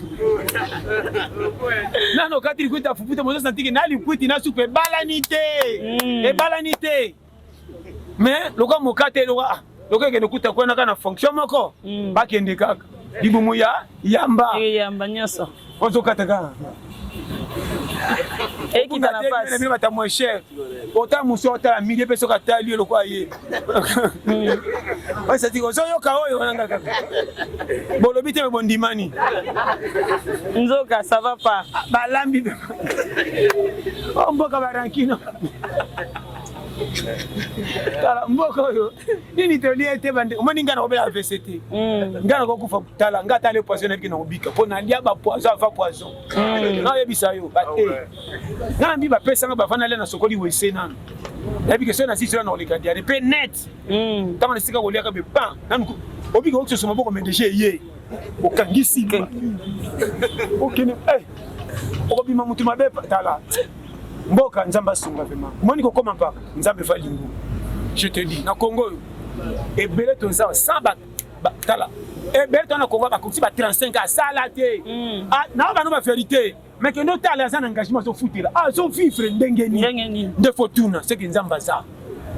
nano kati likwiti ya fufu te mozo santiki na likwiti na supu ebalani te mm. ebalani te mais lokola mokate lokola ah, lokola ekende kuta kuna kaka na fonction moko mm. bakende kaka libumu ya yamba eh, yamba nyonso
ozokata kaka ekita na pasi batamwe cher
ota mosi otala midi mpe soki atali yo lokola ye osati ozoyoka oyo wananga kaka bolobi te me bondimani
nzoka ça va pas balambi o
oh, mboka barankino tala mboka oyo nini toli ete bande omoni ngai nakobela avc te mm. ngai nakokufa tala ngai atali poison nayebiki nakobika mpo nalia bapoison ava poison mm. naoyebisa yo bate nga nambi bapesanga bavanda lia nasokoli wese nanu nayebi ke soki nasisi wana nakoleka diare mpe net hmm. ntango nasika koliaka be pan nanu obika okisusu maboko me deja eye okangisi okende eh, okobima motu mabe tala mboka nzambe asunga vraimen omoni kokoma mpaka nzambe va lingu je te dis na congo oyo ebele toza sans tala ebele tona congo bakoki ba 35 asala te hmm. ah, nao bano ba verité mais kende otala aza na engagement azofutela ah, azovivre ndenge nini nde fotuna seke nzambe aza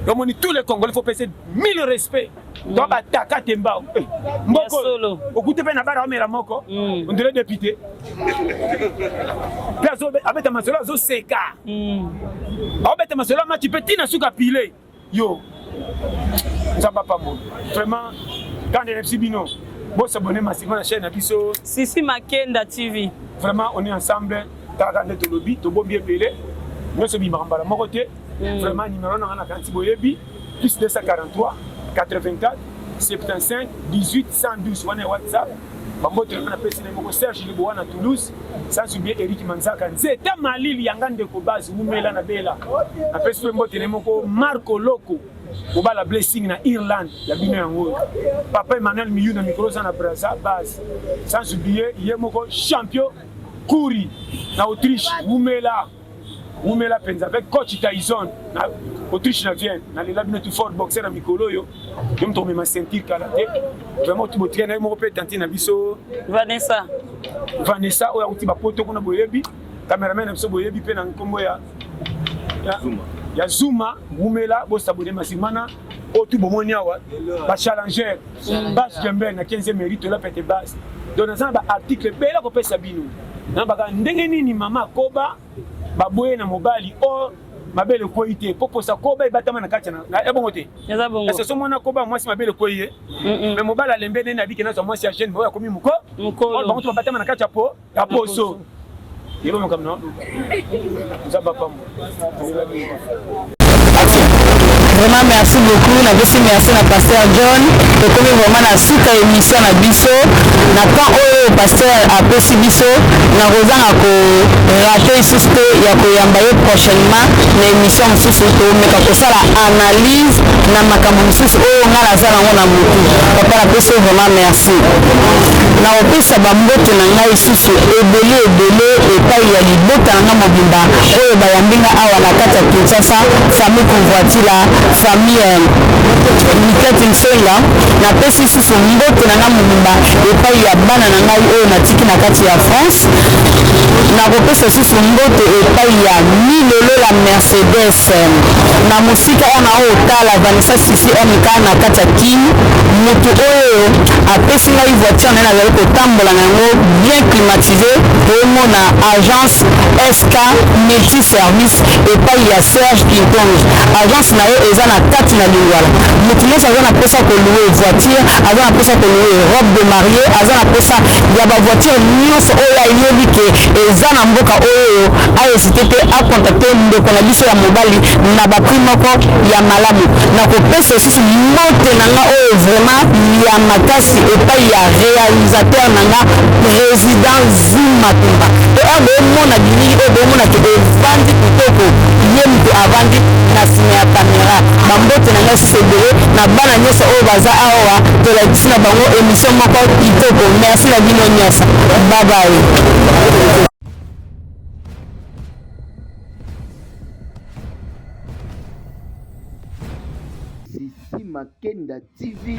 omoni tous les congolais faut pese mille respect mm. to bataka te mbao eh, mboko okute mpe na bara omela moko mm. ondele depute mpe abeta masolo azoseka mm. abeta masolo amati mpe ntina suka pile Yo, nzambe apambola. Vraiment, quand je suis bino, bon s'abonner massivement à la chaîne na biso. Sisi Makenda
TV. Vraiment, on est ensemble.
Kaka nde tolobi, tobombi ebele. Nyonso bimaka mbala moko te. Mm. Vraiment, numéro na nga na kanti boyebi, plus 243 84 75 18 112 wana ya WhatsApp. Bambote na pesi na moko Serge Liboa na Toulouse, sans oublier Eric Manzaka Nzeta Malili yanga ndeko base wumela na bela. Na pesi pe mbote na moko Marco Loco obala blessing na Irlande ya bino yango Papa Emmanuel Miyu na mikolo za na Brazza base, sans oublier ye moko champion Kuri na Autriche wumela. wumela penza avec coach Tyson na Autriche na Vienne na lela bino tout fort boxer na mikolo yo yo mto mema ceinture kala te vraiment tu botre na moko pe tante na biso Vanessa
Vanessa
oyo akuti ba poto kuna boyebi cameraman na biso boyebi pe na nkombo ya ya Zuma wumela bosabone masimana oyo tu bomoni awa bachallenger bas jember na 15 mérite ola pete base donc naza na baarticle ebele akopesa bino na baka ndenge nini mama akoba baboye na mobali or mabele ekwei te mpo posa koba ebatama na kati ya bongo te soso mwana
koba mwasi
mabele ekwei ye me mobali alembe nene abike nazwa mwasi ya jeune oyo akomi moko bango to babatama na kati ya po ya poso
yeba makambo na nzambe apambo vraiment merci beaucoup napesi merci na pasteur john tokomi vraiment na suka émission na biso na temps oyo pasteur apesi biso nakozanga korate lisusu te ya koyamba ye prochainement na émission mosusu tomeka kosala analyse na makambo mosusu oyo ngai naza nango na motu papa napesi yo vraiment merci nakopesa bambote na ngai lisusu ebele ebele epayi ya libota na ngai mobimba oyo bayambi ngai awa na kati ya Kinshasa, famille Kumvuatila, famille Mikette Nsenga, napesi lisusu mbote na ngai mobimba epayi ya bana na ngai oyo natiki na kati ya France, nakopesa lisusu mbote epayi ya Milolo la Mercedes na mosika wana o tala Vanessa Sisi MK na kati ya Kin, mutu oyo apesi ngai voiture na ye nazali ko Tambola na yango bien climatise omona agence SK multi service epayi ya Serge Kinkonge agence na ye eza na kati na lingwala mutu nionso aza na posa ko louer voiture aza na posa ko louer robe de marie aza na posa ya ba voiture nionso oyo ayebi ke eza na mboka oyo a hesite te a contacter ndeko na biso ya mobali na ba prix moko ya malamu na kopesa lisusu mbote na nga oyo vraiment ya makasi epayi ya realisateur na nga president zim matumba to heure bomona bilili oyo bomona ke evandi kitoko ye moto avandi na nsima ya camera bambote na ngai susu ebele na bana nyonso oyo baza awa tolakisi na bango emission moko kitoko merci na bino nyonso babaye Makenda
TV